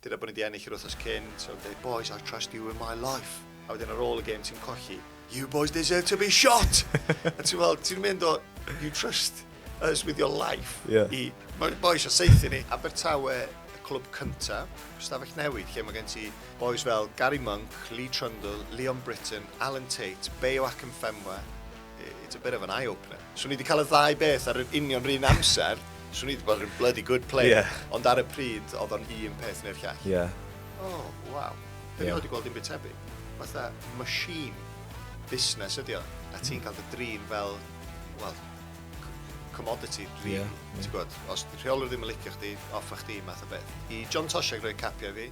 Dyna bod ni 'di ennill yr wythnos cynt, ok boys I trust you with my life. A wedyn ar ôl y gêm ti'n colli, you boys deserve to be shot! a ti'n fel, ti'n mynd o, you trust us with your life yeah. i, mae boys o seithi ni. Abertawe, y clwb cynta, stafell newid, lle mae gen ti boys fel Gary Monk, Lee Trundle, Leon Britton, Alan Tate, Beo Akinfenwa. It's a bit of an eye-opener. Swn i 'di cael y ddau beth ar yr union run amser, swn i 'di bod yn bloody good player. Yeah. Ond ar y pryd, oedd o'n un peth neu'r llall. Ie. Yeah. Oh, waw. Dwi yeah. wedi gweld un byd tebyg. Fatha machine busnes ydi o. A ti'n cael dy drin fel, wel, commodity, really. Yeah, yeah. Ti'n gwybod, os di rheolwr ddim yn licio chdi, off a chdi, math o beth. I John Toshag roi capiau fi,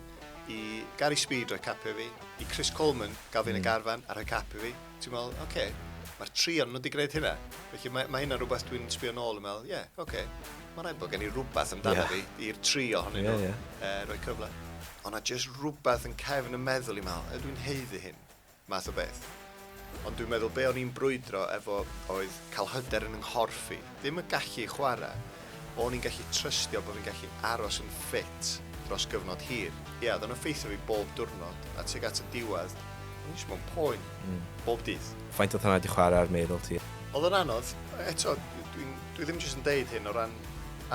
i Gary Speed roi capiau fi, i Chris Coleman gael fi'n mm. y garfan a rhoi capiau fi, Ti'n meddwl, oce, okay, mae'r tri o'n nhw wedi gwneud hynna. Felly mae, mae hynna rhywbeth dwi'n sbio nôl yn meddwl, ie, yeah, oce, okay, mae rhaid bod gen i rhywbeth amdano yeah. fi i'r tri ohonyn nhw yeah, yeah. Uh, roi cyfle. Ond na jyst rhywbeth yn cefn y meddwl i meddwl, ydw i'n heiddi hyn, math o beth. Ond dwi'n meddwl be o'n i'n brwydro efo oedd cael hyder yn nghorff i. Ddim yn gallu chwarae. O'n i'n gallu trystio bod fi'n gallu aros yn ffit dros gyfnod hir. Ie, oedd o'n effeithio fi bob diwrnod, a tuag at y diwedd, o'n i jyst mewn poen. Mm. Bob dydd. Faint oedd hwnna 'di chwarae ar meddwl ti? Oedd o'n anodd. Eto, dwi dwi ddim jyst yn deud hyn o ran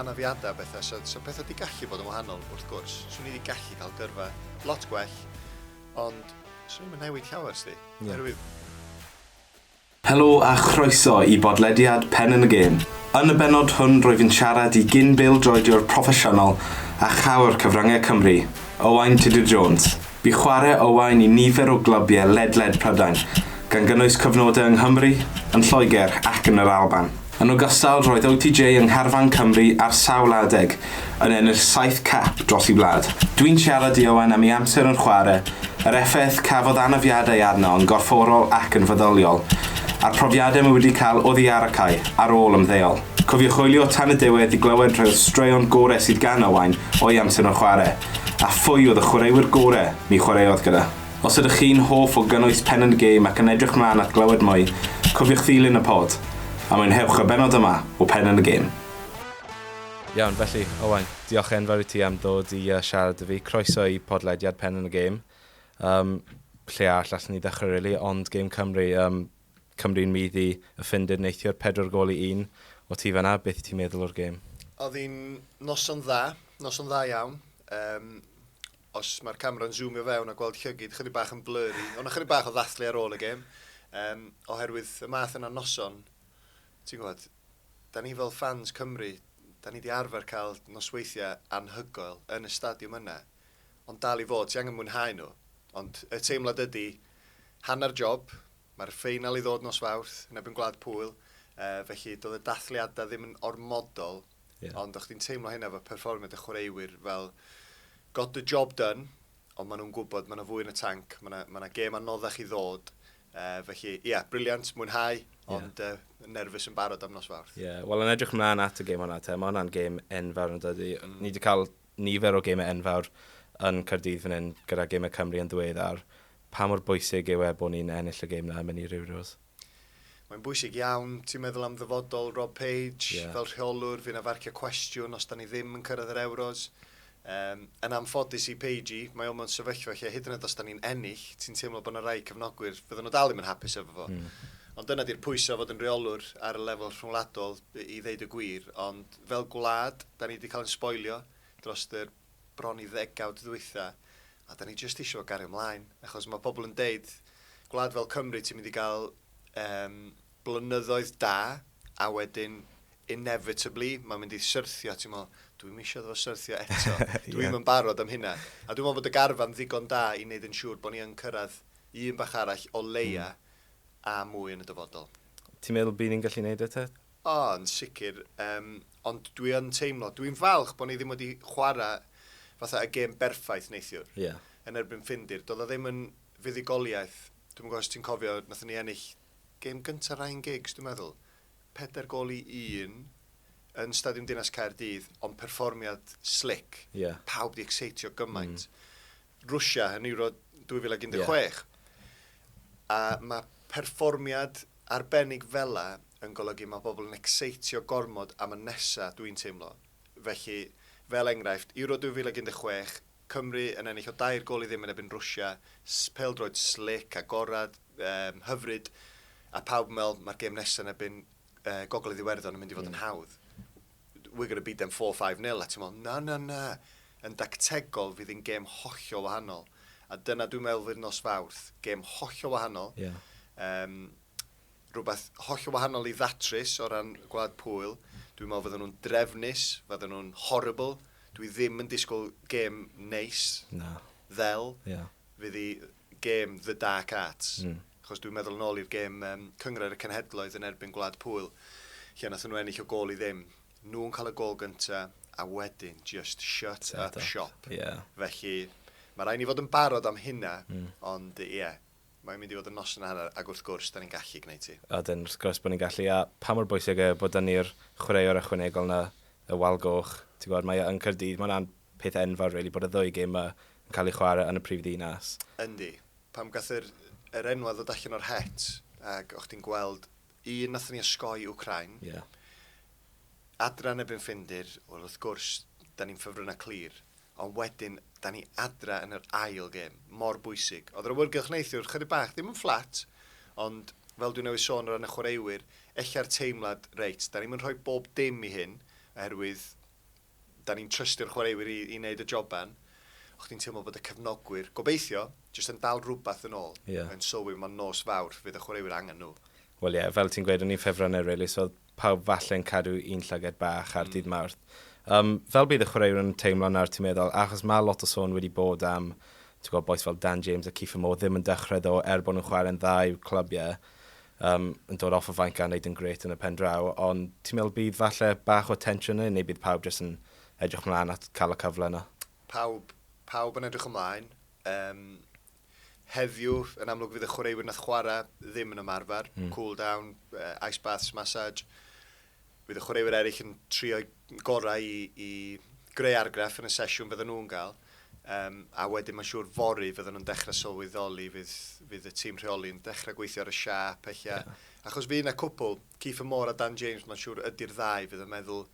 anafiadau a bethau, so so pethau 'di gallu bod yn wahanol wrth gwrs. Swn i 'di gallu cael gyrfa lot gwell, ond swn i'm yn newid llawer 'sdi. Ie. Oherwydd Helo a chroeso i bodlediad Pen yn y Gêm. Yn y bennod hwn rwyf yn siarad i gyn-bêl-droediwr proffesiynol a chawr cyfryngau Cymru, Owain Tudur Jones. Bu chwarae Owain i nifer o glybiau ledled Prydain, gan gynnwys cyfnodau yng Nghymru, yn Lloegr ac yn yr Alban. Yn ogystal, roedd OTJ yng ngharfan Cymru ar sawl adeg, yn ennill saith cap dros ei wlad. Dwi'n siarad i Owen am ei amser yn chwarae, yr effaith cafodd anafiadau arno yn gorfforol ac yn feddyliol, a'r profiadau mae wedi cael oddi ar y cae ar ôl ymddeol. Cofiwch hwylio tan y diwedd i glywed rhai o'r straeon gorau sydd gan Owain o'i amser yn chwarae, a phwy oedd y chwaraewyr gorau ni chwaraeodd gyda. Os ydych chi'n hoff o gynnwys Pen and Game ac yn edrych mlaen at glywed mwy, cofiwch ddilyn y pod, a mwynhewch y bennod yma o Pen and Game. Iawn, felly, Owain, diolch enfawr i ti am ddod i siarad 'da fi. Croeso i podlediad Pen and Game. Um, lle arall allan ni ddechrau, really, ond Game Cymru. Um, Cymru'n mydd i y Ffindir neithiwr, pedwar gol i un. O ti fanna, beth ti'n meddwl o'r gêm? Oedd hi'n noson dda, noson dda iawn. Um, Os mae'r camera'n zoomio fewn a gweld llygid chydig bach yn blurry, ond chydig bach o ddathlu ar ôl y gêm, um, oherwydd y math yna noson, ti'n gwybod, da ni fel fans Cymru, da ni wedi arfer cael nosweithiau anhygoel yn y stadiwm yna, ond dal i fod, ti angen mwynhau nhw. Ond y teimlad ydy, hanner job, mae'r ffeinal i ddod nos Fawrth, yn ebyn Gwlad Pwyl, uh, felly doedd y dathliadau ddim yn ormodol, Yeah. Ond o'ch ti'n teimlo hynna efo perfformiad y chwaraewyr fel got the job done, ond maen nhw'n gwybod, maen nhw fwy yn y tanc, maen nhw ma gêm anoddach i ddod, Uh, felly, ie, yeah, briliant, mwynhau, ond yeah. uh, nerfus yn barod am nos fawrth. Ie, yeah. wel yn edrych mlaen at y gêm hwnna, te, mae hwnna'n gêm enfawr yn dydy. Mm. Ni wedi cael nifer o gêmau enfawr yn Cardydd fan hyn gyda gêmau Cymru yn ddiweddar. Pa mor bwysig yw e bod ni'n ennill y gêm na, mynd i Riwriws? Mae'n bwysig iawn, ti'n meddwl am ddyfodol Rob Page, yeah. fel rheolwr, fy'n afarcio cwestiwn os da ni ddim yn cyrraedd yr Euros. Um, yn anffodus i Page i, mae o'n mewn sefyllfa lle hyd yn oed os da ni'n ennill, ti'n teimlo bod yna rai cyfnogwyr, fydden nhw dal ddim yn hapus efo fo. Mm. Ond dyna di'r pwysau fod yn reolwr ar y lefel rhwngwladol i ddeud y gwir, ond fel gwlad, da ni wedi cael yn sboilio dros y bron i ddegawd ddwytha a 'da ni jyst isio gario mlaen achos mae pobl yn deud gwlad fel Cymru ti'n mynd i gael um, blynyddoedd da a wedyn inevitably mae'n mynd i syrthio ti'n meddwl dwi'n eisiau iddo fo syrthio eto dwi'n yeah. yn barod am hynna a dwi'n meddwl bod y garfan ddigon da i wneud yn siŵr bod ni yn cyrraedd un bach arall o leia mm. a mwy yn y dyfodol. Ti'n meddwl bydd ni'n gallu gwneud eto? O, yn sicr. Yym, ond dwi yn teimlo, dwi'n falch bod ni ddim wedi chwarae fatha y gêm berffaith neithiwr. Ie. Yeah. Yn erbyn Ffindir. Doedd o ddim yn fuddugoliaeth. Dwi'm yn gwybod os ti'n cofio, nathon ni ennill gêm gyntaf Ryan Giggs, dwi'n meddwl. Pedair gol i un yn Stadiwm Dinas Caerdydd, ond perfformiad slick. Ie. Yeah. Pawb di exeitio gymaint. Mm. Rwsia yn Euro 2016. Yeah. A mae perfformiad arbennig fela yn golygu mae pobl yn ecseitio gormod am y nesa, dwi'n teimlo. Felly, fel enghraifft, Euro 2016, Cymru yn ennill o dair gôl i ddim yn erbyn Rwsia, s- pêl-droed slic, agored, yym, hyfryd, a pawb yn meddwl mae'r gêm nesa yn erbyn yy Gogledd Iwerddon yn mynd i fod yn hawdd. We're going to beat them four, five nil, a ti'n meddwl, na, na, na! Yn dactegol, fydd hi'n gêm hollol wahanol. A dyna dwi'n meddwl fydd nos Fawrth, gêm hollol wahanol. Ie. Yym, rhywbeth hollol wahanol i ddatrys o ran Gwlad Pwyl. Dwi'n meddwl fydden nhw'n drefnus, fydden nhw'n horrible. Dwi ddim yn disgwyl gêm neis. Na. Fel. Ia. Fydd i gêm The Dark Arts. Mm. Chos dwi'n meddwl yn ôl i'r gêm um, Cyngrair y Cenhedloedd yn erbyn Gwlad Pwyl, lle nath nhw ennill o gol i ddim. Nhw'n cael y gol gynta, a wedyn just shut Set up, up shop. Yeah. Felly, mae rhaid ni fod yn barod am hynna, mm. ond ie. Yeah Mae'n mynd i fod yn noson a hanner ac wrth gwrs, 'da ni'n gallu gwneud hi. Ydyn, wrth gwrs bod ni'n gallu a pa mor bwysig yw bod 'da ni'r chwaraewr ychwanegol 'na, y wal goch, ti'n gwybod, mae e yn Caerdydd, mae hwnna'n peth enfawr rili bod y ddwy gêm 'ma yn cael eu chwarae yn y prif ddinas. Yndi. Pam gath yr yr enwau ddod allan o'r het ac o'ch chdi'n gweld un nathon ni osgoi Wcráin, Ie. adra yn erbyn Ffindir, wel wrth gwrs 'da ni'n ffefrynnau clir. Ond wedyn, 'da ni adra yn yr ail gêm, mor bwysig. Oedd yr awyrgylch neithiwr chydig bach, ddim yn fflat, ond fel dwi newydd sôn o ran y chwaraewyr, ella'r teimlad, reit, 'da ni'm yn rhoi bob dim i hyn, oherwydd 'da ni'n trystio'r chwaraewyr i i wneud y joban. O' chdi'n teimlo bod y cefnogwyr, gobeithio, jyst yn dal rwbath yn ôl. Ie. Yn sylwi, mae'n nos Fawrth, fydd y chwaraewyr angen nhw. Wel ie, fel ti'n gweud, o'n i'n ffefryn e rili, so Pawb falle'n cadw un llygad bach ar Dydd Mawrth. Yym, fel bydd y chwaraewr yn teimlo nawr, ti'n meddwl, achos mae lot o sôn wedi bod am, ti'n gwybod, bois fel Dan James a Kiefer Moore ddim yn dechrau ddo, er bod nhw'n chwarae'n dda i'w clybiau, um, yn dod off y fainc a wneud yn gret yn y pen draw, ond ti'n meddwl bydd falle bach o tensiwn yn neu bydd pawb jyst yn edrych mlaen at cael y cyfle yna? Pawb, pawb yn edrych ymlaen. Um, Heddiw, yn amlwg fydd y chwaraewyr nath chwarae ddim yn ymarfer, mm. cool down, uh, ice baths, massage. Fydd y chwaraewyr eraill yn trio'i gorau i, i greu argraff yn y sesiwn fydden nhw'n gael. Um, a wedyn mae'n siŵr fori fydden nhw'n dechrau sylweddoli fydd, fydd y tîm rheoli'n dechrau gweithio ar y siap eich yeah. achos fydd yna cwpl Keith Moore a Dan James mae'n siŵr ydy'r ddau fydd yn meddwl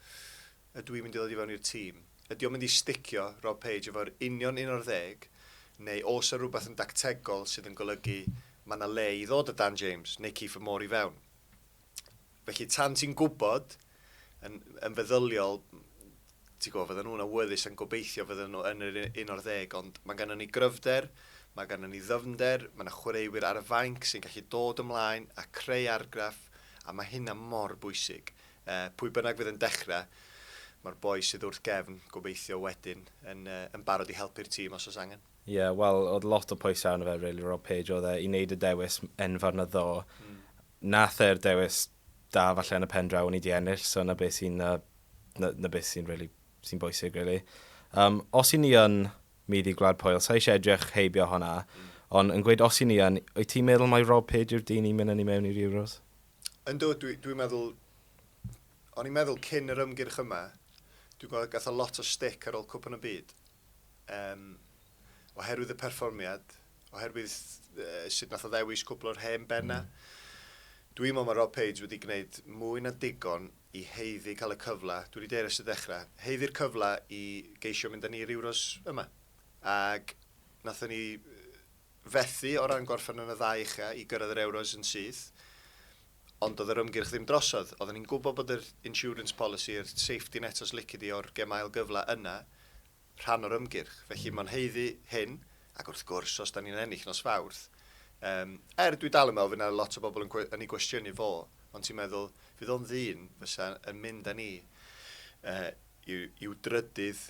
ydw i'n mynd i ddod i fewn i'r tîm? Ydy o'n mynd i sticio, Rob Page, efo'r union un o'r ddeg, neu oes 'na rywbeth yn dactegol sydd yn golygu ma' 'na le i ddod â Dan James neu Kiefer Moore i fewn? Felly, tan ti'n gwybod, yn yn feddyliol, ti'n gwybod, fyddan nhw'n awyddus yn gobeithio fyddan nhw yn yr un o'r ddeg, ond mae gennym ni gryfder, mae gennym ni ddyfnder, mae 'na chwaraewyr ar y fainc sy'n gallu dod ymlaen a creu argraff, a mae hynna mor bwysig. Yy, pwy bynnag fydd yn dechre, ma'r boi sydd wrth gefn, gobeithio, wedyn, yn yy, yn barod i helpu'r tîm os oes angen. Ie, wel, o'dd lot o pwysau arno fe rili, Rob Page, o'dd e, i neud y dewis enfawr 'na ddo'. Nath e'r dewis da falle yn y pen draw, o'n i 'di ennill, so 'na beth sy'n yy, 'na 'na beth sy'n rili, sy'n bwysig rili. Yym, os 'yn ni yn myd i Gwlad Pwyl, sai isie edrych heibio honna, on' yn gweud os 'yn ni yn, wyt ti'n meddwl mai Rob Page yw'r dyn i myn' â ni mewn i'r Euros? Yndw, dwi, dwi'n meddwl, o'n i'n meddwl cyn yr ymgyrch yma, dwi'n gweld gath o lot o stick ar ôl Cwpan y Byd. Um, oherwydd y perfformiad, oherwydd uh, sut nath o ddewis cwbl o'r hen benna. Mm. Dwi'n meddwl mae Rob Page wedi gwneud mwy na digon i heiddi cael y cyfle, dwi wedi deir ers y dechrau, heiddi'r cyfle i geisio mynd â ni i'r Euros yma. Ac nathon ni fethu o ran gorffen yn y ddau ucha i gyrraedd yr Euros yn syth, ond doedd yr ymgyrch ddim drosodd. Oedden ni'n gwybod bod yr insurance policy, yr safety net os lici di, o'r gem ail gyfle yna, rhan o'r ymgyrch. Felly mae'n haeddu hyn, ac wrth gwrs, os da ni'n ennill nos Fawrth, yym, er dwi dal yn meddwl fydd yna lot o bobl yn, yn ei gwestiynu fo, ond ti'n meddwl, fydd o'n ddyn fysa yn mynd â ni uh, i'w, i'w drydydd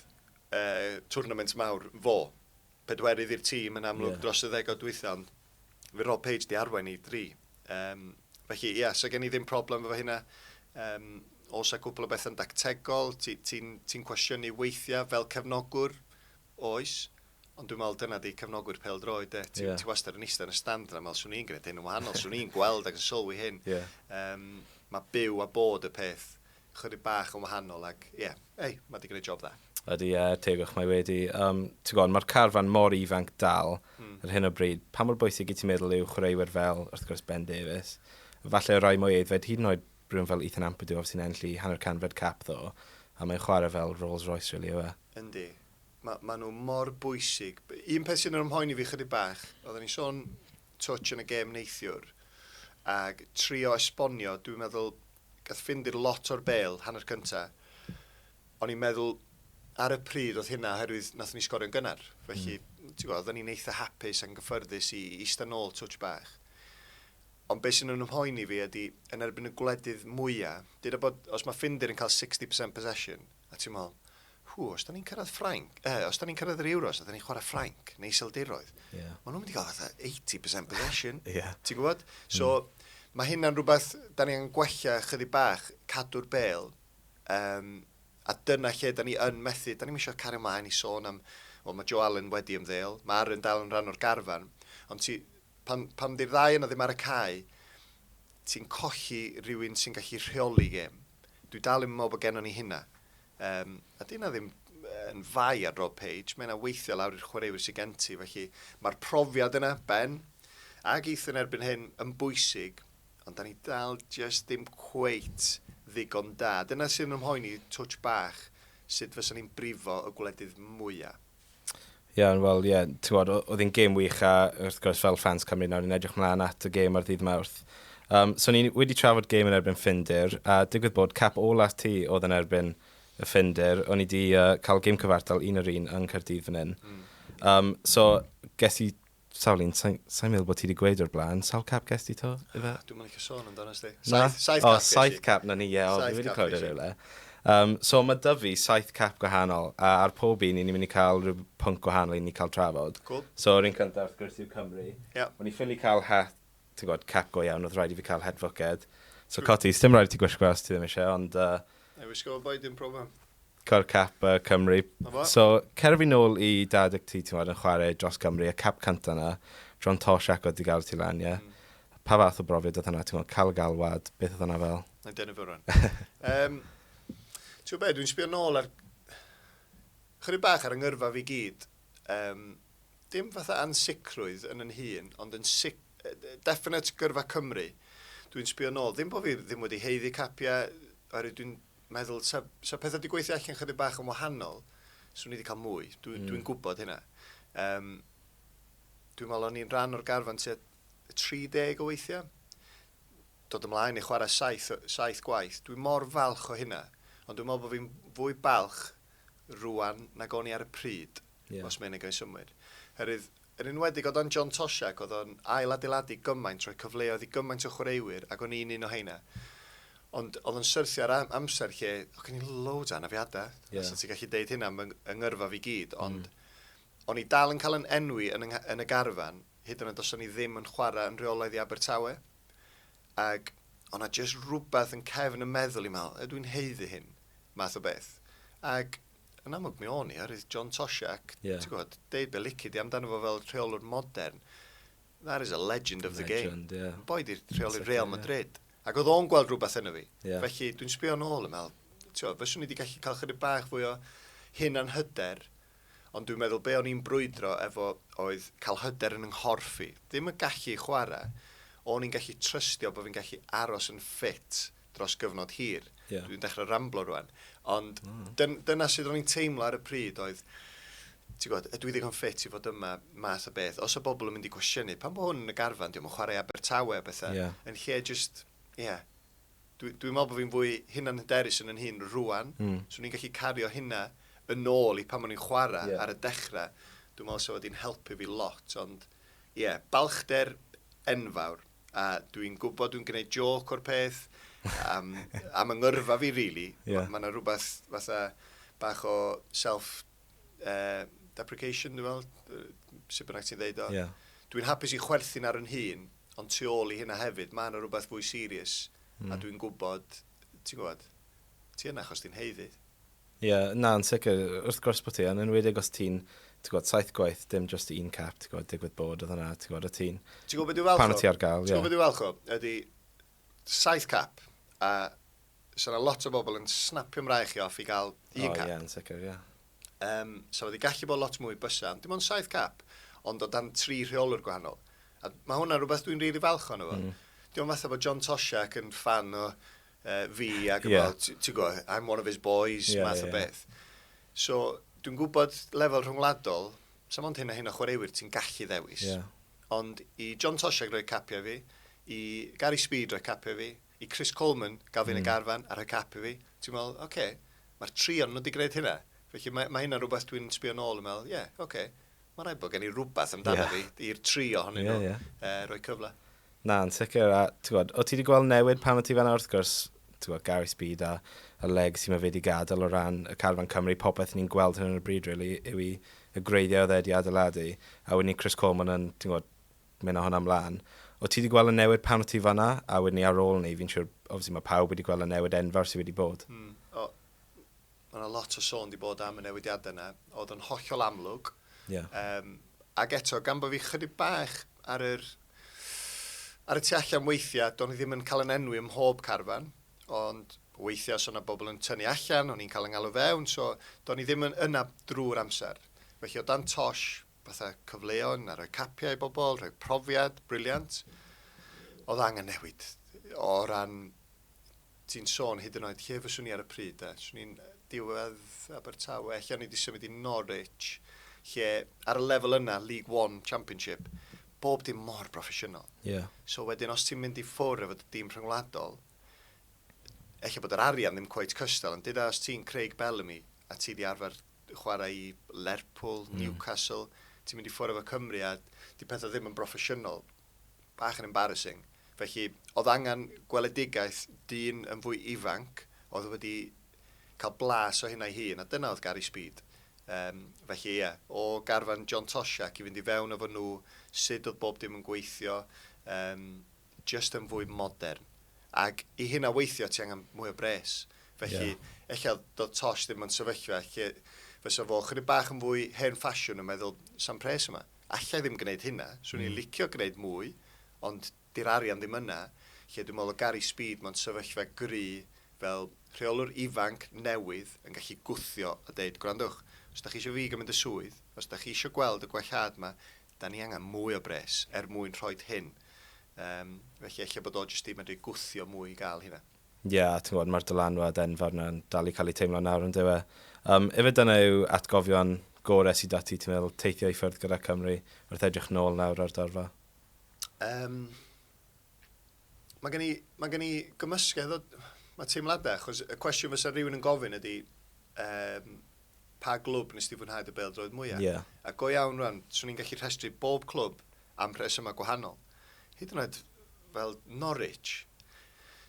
uh, twrnament mawr fo. pedwerydd i'r tîm yn amlwg yeah. dros y ddegod dwytha, ond fe Rob Page di arwain i dri. Um, felly, ie, yeah, so gen i ddim problem efo hynna. Um, os a cwpl o bethau'n dactegol, ti'n ti, ti cwestiynu weithiau fel cefnogwr, oes, ond dwi'n meddwl dyna di cefnogwyr pel droed, e. Ti, yeah. ti wastad yn eistedd yn y stand yna, meddwl swn i'n gwneud hyn yn wahanol, swn i'n gweld ac yn sylwi hyn. Yeah. Um, mae byw a bod y peth chydig bach yn wahanol ac ie, yeah, ei, mae wedi gwneud job dda. Ydy, ie, uh, tegwch mae wedi. Um, ti'n gwybod, mae'r carfan mor ifanc dal mm. ar hyn o bryd. Pa mor bwysig i ti'n meddwl yw chwaraewyr fel, wrth gwrs, Ben Davies? Falle rai mwy eiddfed, hyd yn oed rhywun fel Ethan Ampadu, sy'n enllu hanner canfed cap ddo, a mae'n chwarae fel Rolls Royce, really, yw e? Yndi. Mae ma nhw mor bwysig. Un peth sy'n ymhoen i fi chydig bach, oedden ni sôn touch yn y gêm neithiwr, ac trio esbonio, dwi'n meddwl, gath Ffindir lot o'r bêl hanner cynta. O'n i'n meddwl ar y pryd oedd hynna oherwydd nathon ni sgorio'n gynnar. Felly, mm. ti'n gwybod, oedden ni'n eitha hapus a'n gyffyrddus i eista nôl twtch bach. Ond beth sy'n ymhoen i fi ydy, yn erbyn y gwledydd mwyaf, dyda bod, os mae Ffindir yn cael 60% possession, a ti'n meddwl, Ww, os da ni'n cyrraedd Ffrainc, uh, os da ni'n cyrraedd yr Euros, a da ni'n chwarae Ffrainc, neu Iseldiroedd, yeah. maen nhw'n mynd i gael fatha 80% possession, yeah. ti'n gwybod? So, mm. mae hynna'n rhywbeth, da ni'n gwella chydig bach, cadw'r bel, um, a dyna lle da ni yn methu, da ni'n eisiau cario mlaen i sôn am, o, mae Joe Allen wedi ymddeol, mae Aaron dal yn rhan o'r garfan, ond ti, pan, pan di'r ddau yna ddim ar y cae, ti'n colli rhywun sy'n gallu rheoli gêm. Dwi dal yn meddwl bod gennym ni hynna. Yym, a 'di hynna ddim yn fai ar Rob Page, mae yna weithio lawr i'r chwaraewyr sy'n gen ti, felly mae'r profiad yna, Ben, ac Ethan erbyn hyn yn bwysig, ond da ni dal jyst ddim cweit ddigon da. Dyna sy'n ymhoeni touch bach, sut fysa ni'n brifo y gwledydd mwyaf. Iawn, wel, ie, ti'n gwybod, oedd hi'n gêm wych a wrth gwrs fel ffans Cymru nawr, ni'n edrych mlaen at y gêm ar ddydd Mawrth. Um, so ni wedi trafod gêm yn erbyn Ffindir, a digwydd bod cap ola ti oedd yn erbyn y Ffindir, o'n i wedi uh, cael gêm cyfartal un yr un yng Nghyrdydd fan hyn. Mm. Um, so, ges i Sawl un? Sa i'n meddwl bod ti wedi gweud o'r blaen. Sawl cap ges ti to, Ife? Dwi'n mynd licio sôn amdano sti. Saith, saith cap ges i. O, saith cap na ni, ie. O, fi wedi clywed e rhywle. Um, so mae dy fi saith cap gwahanol, a ar pob un, ni'n mynd i cael rhyw pwnc gwahanol i ni cael trafod. Cool. So, yr un cyntaf, wrth gwrs, yw Cymru. Yeah. O'n i ffili cael het, ti'n gwybod, cap go iawn, oedd rhaid i fi cael het fwced. So, coti, sdim rhaid i ti gwisgo os ti ddim eisiau, ond... Uh, Na, wisgo fo boi, dim problem. Cor Cap yy Cymru. Na fo. So cer fi nôl i dad ac ti t'mod yn chware dros Gymru y cap cynta 'na, John Tosh ac oedd 'di galw ti lan ie? Hmm. Pa fath o brofiad oedd hwnna t'mod ca'l y galwad beth oedd hwnna fel? Mae'n denu fy rŵan. Yym t'mo' be' dwi'n sbio nôl ar chydig bach ar 'y ngyrfa fi gyd yym dim fatha ansicrwydd yn 'yn hun ond yn sic- definite gyrfa Cymru dwi'n sbio nôl ddim bo' fi ddim wedi haeddu capia oherwydd dwi'n meddwl, 'sa, 'sa pethau wedi gweithio allan chydig bach yn wahanol, swn i wedi cael mwy. Dwi, mm. Dwi'n gwybod hynna. Um, dwi'n meddwl o'n i'n rhan o'r garfan tua 30 o weithiau. Dod ymlaen i chwarae saith, saith gwaith. Dwi'n mor falch o hynna. Ond dwi'n meddwl bod fi'n fwy balch rwan nag o'n i ar y pryd. Ie. Os mae hynny'n cael ei synnwyr. Oherwydd, yn enwedig o dan John Toshack, oedd o'n ail-adeiladu gymaint, rhoi cyfleoedd i gymaint o chwaraewyr, ac o'n i'n un o heina. Ond oedd o'n syrthio ar am- amser lle oedd gen i loads o anafiadau. Ie. Fysa ti'n gallu deud hynna am fy ng- yng ngyrfa fi i gyd, ond o'n i dal yn cael yn enwi yn y ngha- yn y garfan, hyd yn oed os o'n i ddim yn chwarae yn rheolaidd i Abertawe. Ac oedd 'na jyst rhywbeth yn cefn 'y meddwl i'n meddwl, 'ydw i'n haeddu hyn? math o beth. Ac yn amlwg mi o'n i, oherwydd John Toshak, yeah. ti'n gwybod, deud be lici di amdano fo fel rheolwr modern. That is a legend of legend, the game. Yeah. Yn boed i'r rheolwr Real Madrid. Yeah. Ac oedd o'n gweld rhywbeth yn y fi. Yeah. Felly, dwi'n sbio yn ôl yn meddwl, ti'n fe swn i wedi gallu cael chydig bach fwy o hyn a'n hyder, ond dwi'n meddwl be o'n i'n brwydro efo oedd cael hyder yn nghorff i. Ddim yn gallu chwarae, o'n i'n gallu trystio bod fi'n gallu aros yn ffit dros gyfnod hir. Yeah. Dwi'n dechrau ramblo rwan. Ond mm. dyn, dyna sydd o'n i'n teimlo ar y pryd oedd, ti'n gwybod, ydw i ddigon ffit i fod yma math o beth. Os y bobl yn mynd i gwestiynu, pan bod hwn yn y garfan, diolch yn chwarae Abertawe a bethau, yeah. yn lle just, ie, yeah, dwi'n dwi meddwl bod fi'n fwy hunan hyderus yn yn hun rwan, mm. so ni'n gallu cario hynna yn ôl i pan o'n i'n chwarae yeah. ar y dechrau. Dwi'n meddwl sef wedi'n helpu fi lot, ond ie, yeah, balchder enfawr. a dwi'n gwybod dwi'n gwneud joc o'r peth, am, am yng ngyrfa fi, really. Yeah. Mae yna rhywbeth fatha bach o self-deprecation, uh, dwi'n meddwl, sut bynnag ti'n ddeud o. Yeah. Dwi'n hapus i chwerthin ar yn hun, ond tu ôl i hynna hefyd, mae yna rhywbeth fwy serius, mm. a hmm. dwi'n gwybod, ti'n gwybod, ti yna achos ti'n heiddi. Ie, na, yn sicr. Wrth gwrs bod ti, yn enwedig os ti'n, ti'n gwybod, saith gwaith, dim just un cap, ti'n gwybod, digwydd bod oedd hwnna, ti'n gwybod, o ti'n... Ti'n gwybod beth dwi'n falch o? Pan o ti ar gael, ie. Ti'n gwybod beth dwi'n falch o? Ydy, saith cap, a sa yna lot o bobl yn snapio mrae chi off i gael un cap. O, ie, yn sicr, ie. Um, sa wedi gallu bod lot mwy bysa, ond dim ond saith cap, ond o dan tri rheolwr gwahanol. A mae hwnna rhywbeth dwi'n rili really falch o'n efo. Mm. Diolch fatha bod John Toshak yn fan o uh, fi ac yeah. fel, ti'n gwybod, I'm one of his boys, yeah, math yeah, o beth. Yeah. So, dwi'n gwybod lefel rhwngwladol, sa mond hyn a hyn o chwaraewyr ti'n gallu ddewis. Yeah. Ond i John Tosiag roi capiau fi, i Gary Speed roi capiau fi, i Chris Coleman gael fi'n mm. y garfan a rhoi capiau fi, ti'n meddwl, oce, okay, mae'r tri ond nhw wedi gwneud hynna. Felly mae, mae hynna rhywbeth dwi'n sbio nôl yn meddwl, ie, yeah, oce. Okay. Mae rhaid bod gen i rhywbeth amdano yeah. fi i'r tri ohonyn nhw yeah, yeah. Uh, roi cyfle. Na, yn sicr. A, gwybod, o ti wedi gweld newid pan o ti fanna wrth gwrs, ti'n gwybod, Gary Speed a, a Leg sy'n mae wedi gadael o ran y carfan Cymru, popeth ni'n gweld hyn yn y bryd, really, yw i y greiddiau oedd wedi adeiladu, a wedyn ni Chris Coleman yn, ti'n gwybod, mynd o hwnna ymlaen. O ti wedi gweld y newid pan o ti fanna, a wedyn ni ar ôl ni, fi'n siŵr, obviously mae pawb wedi gweld y newid enfawr sydd wedi bod. Mm. O, Mae yna lot o sôn di bod am y newidiadau yna, oedd yn hollol amlwg. Yeah. Um, ac eto, gan bod fi chydig bach ar yr ar y tu allan weithiau, do'n i ddim yn cael yn enwi ym mhob carfan, ond weithiau os o'na bobl yn tynnu allan, o'n i'n cael yn ngalw fewn, so do'n i ddim yn yna drwy'r amser. Felly o dan tosh, fatha cyfleon, a rhoi capiau i bobl, rhoi profiad, briliant, oedd angen newid o ran Ti'n sôn hyd yn oed lle fyswn i ar y pryd de. Swn i'n diwedd Abertawe, ella o'n i wedi symud i Norwich, lle ar y lefel yna, League One Championship, bob dim mor broffesiynol. Yeah. So wedyn, os ti'n mynd i ffwr efo dy dîm rhyngwladol, ella bod yr arian ddim cweit cystal, ond dyda os ti'n Craig Bellamy, a ti di arfer chwarae i Lerpwl, mm. Newcastle, ti'n mynd i ffwr efo Cymru, a di pethau ddim yn broffesiynol. bach yn embarrassing. Felly, oedd angen gweledigaeth dyn yn fwy ifanc, oedd wedi cael blas o hynna'i hun, a dyna oedd Gary Speed. Um, felly, ie, yeah, o garfan John Toshack i fynd i fewn efo nhw, sut oedd bob dim yn gweithio, um, just yn fwy modern. Ac i hynna weithio, ti angen mwy o bres. Felly, yeah. eich oedd Tosh ddim yn sefyllfa, lle fysa fo chydig bach yn fwy hen ffasiwn yn meddwl, sam pres yma. Alla i ddim gneud hynna, swn i'n licio gneud mwy, ond di'r arian ddim yna, lle dwi'n meddwl o Gary Speed mewn sefyllfa gry fel rheolwr ifanc newydd yn gallu gwthio a deud, gwrandwch, os da chi isio fi gymryd y swydd, os da chi isio gweld y gwellhad ma, da ni angen mwy o bres er mwyn rhoid hyn. Yym, felly ella bod o jyst di medru gwthio mwy i gael hynna. Ie, a ti'n gwybod, mae'r dylanwad enfawr yna'n dal i cael ei teimlo nawr, yn dyw e? Yym, ife dyna yw atgofion gore sydd 'da ti, ti'n meddwl, teithio i ffwrdd gyda Cymru, wrth edrych nôl nawr ar dorfa? Yym, mae gen i, mae gen i gymysgedd o, mae teimladau, achos y cwestiwn fysa rhywun yn gofyn ydy, um, pa glwb nes ti fwynhau dy bêl-droed mwyaf? Ie. A go iawn rwan, swn i'n gallu rhestru bob clwb am rhesymau gwahanol, hyd yn oed fel Norwich.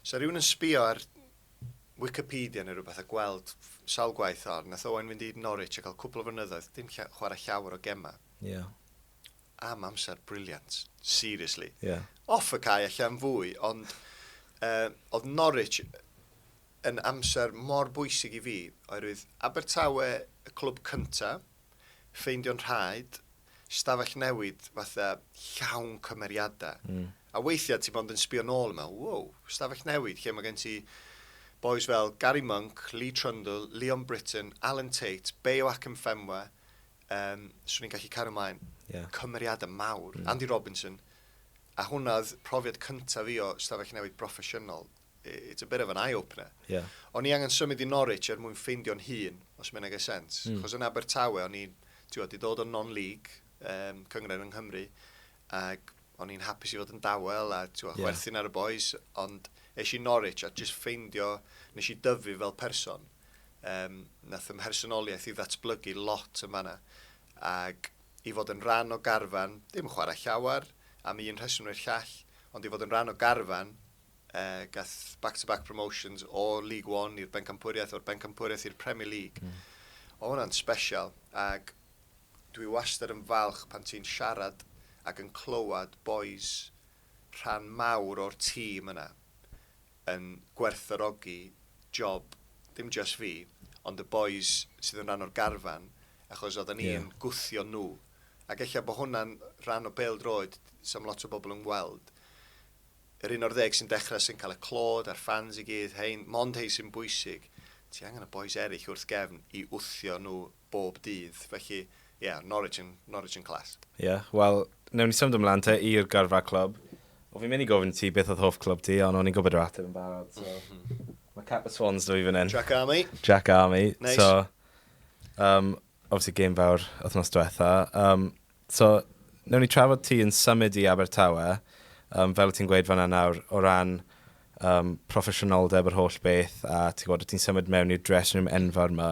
Sa rhywun yn sbio ar Wikipedia neu rhywbeth a gweld sawl gwaith o'r, nath Owain fynd i Norwich a cael cwpl o flynyddoedd, dim lla, chwarae llawer o gemau. Yeah. Am amser briliant, seriously. Yeah. Off y cae allan fwy, ond uh, oedd Norwich yn amser mor bwysig i fi, oherwydd Abertawe, y clwb cyntaf, ffeindio'n rhaid, stafell newid fatha llawn cymeriadau. Mm. A weithiau ti bond yn sbio nôl yma, wow, stafell newid, lle mae gen ti boys fel Gary Monk, Lee Trundle, Leon Britton, Alan Tate, Bayo Akinfenwa, um, swn i'n gallu cario ymlaen, yeah. cymeriadau mawr, mm. Andy Robinson, a hwnna oedd profiad cyntaf fi o stafell newid broffesiynol, it's a bit of an eye-opener. Yeah. O'n i angen symud i Norwich er mwyn ffeindio'n hun, os mae'n ei sens. Mm. Chos yn Abertawe, o'n i'n, ti'n di dod o non-league, um, cyngred yng Nghymru, ac o'n i'n hapus i fod yn dawel a ti'n yeah. chwerthin ar y boys, ond eis i Norwich a just ffeindio, nes i dyfu fel person. Um, nath ymhersonoliaeth i ddatblygu lot yn fanna. Ac i fod yn rhan o garfan, ddim yn chwarae llawer, am un rheswm neu'r llall, ond i fod yn rhan o garfan, Uh, gath back-to-back -back promotions o League One i'r Bencampwriaeth, o'r Bencampwriaeth i'r Premier League. Mm. O hwnna'n special, ac dwi wastad yn falch pan ti'n siarad ac yn clywed boys rhan mawr o'r tîm yna yn gwerthorogi job, dim just fi, ond y boys sydd yn rhan o'r garfan, achos oedden ni'n yeah. gwthio nhw. Ac eich bod hwnna'n rhan o bel droed, sam lot o bobl yn gweld, yr un o'r ddeg sy'n dechrau sy'n cael y clod a'r ffans i gyd, hein, mond hein sy'n bwysig. Ti angen y bois eryll wrth gefn i wthio nhw bob dydd. Felly, ie, Norwich yn, Norwich yn class. Ie, wel, newn ni symud ymlan te i'r gyrfa clwb. O, fi'n mynd i gofyn i ti beth oedd hoff clwb ti, ond o'n i'n gwybod yr ateb yn barod, so... Mae cap y Swans da fi fan hyn. Jack Army. Jack Army. Neis. So, um, obviously game fawr wythnos diwetha. Um, So, wnawn ni trafod ti yn symud i Abertawe, yym, fel ti'n gweud fan'na nawr, o ran um, proffesiynoldeb yr holl beth, a ti'n gwybod, ti'n symud mewn i'r dressing room enfawr yma.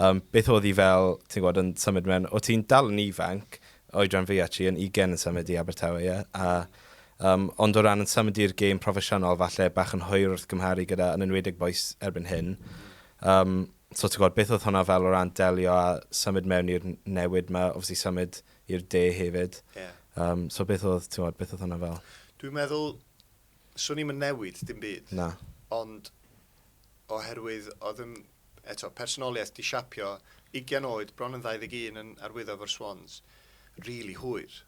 Um, beth oedd hi fel, ti'n gwybod, yn symud mewn, o ti'n dal yn ifanc, oedran fi actually, yn 20 yn symud i Abertawe, ie? Yeah? A, um, ond o ran yn symud i'r gêm proffesiynol, falle bach yn hwyr wrth gymharu gyda, yn enwedig boes erbyn hyn. Um, So ti'n gwybod, beth oedd hwnna fel o ran delio a symud mewn i'r newid yma, obviously symud i'r de hefyd. Yeah. Um, so beth oedd, ti'n gwybod, beth oedd hwnna fel? Dwi'n meddwl, swn i'n mynd newid dim byd. Na. Ond oherwydd oedd yn, eto, personoliaeth di siapio 20 oed, bron yn 21 yn arwyddo fo'r Swans, really hwyr.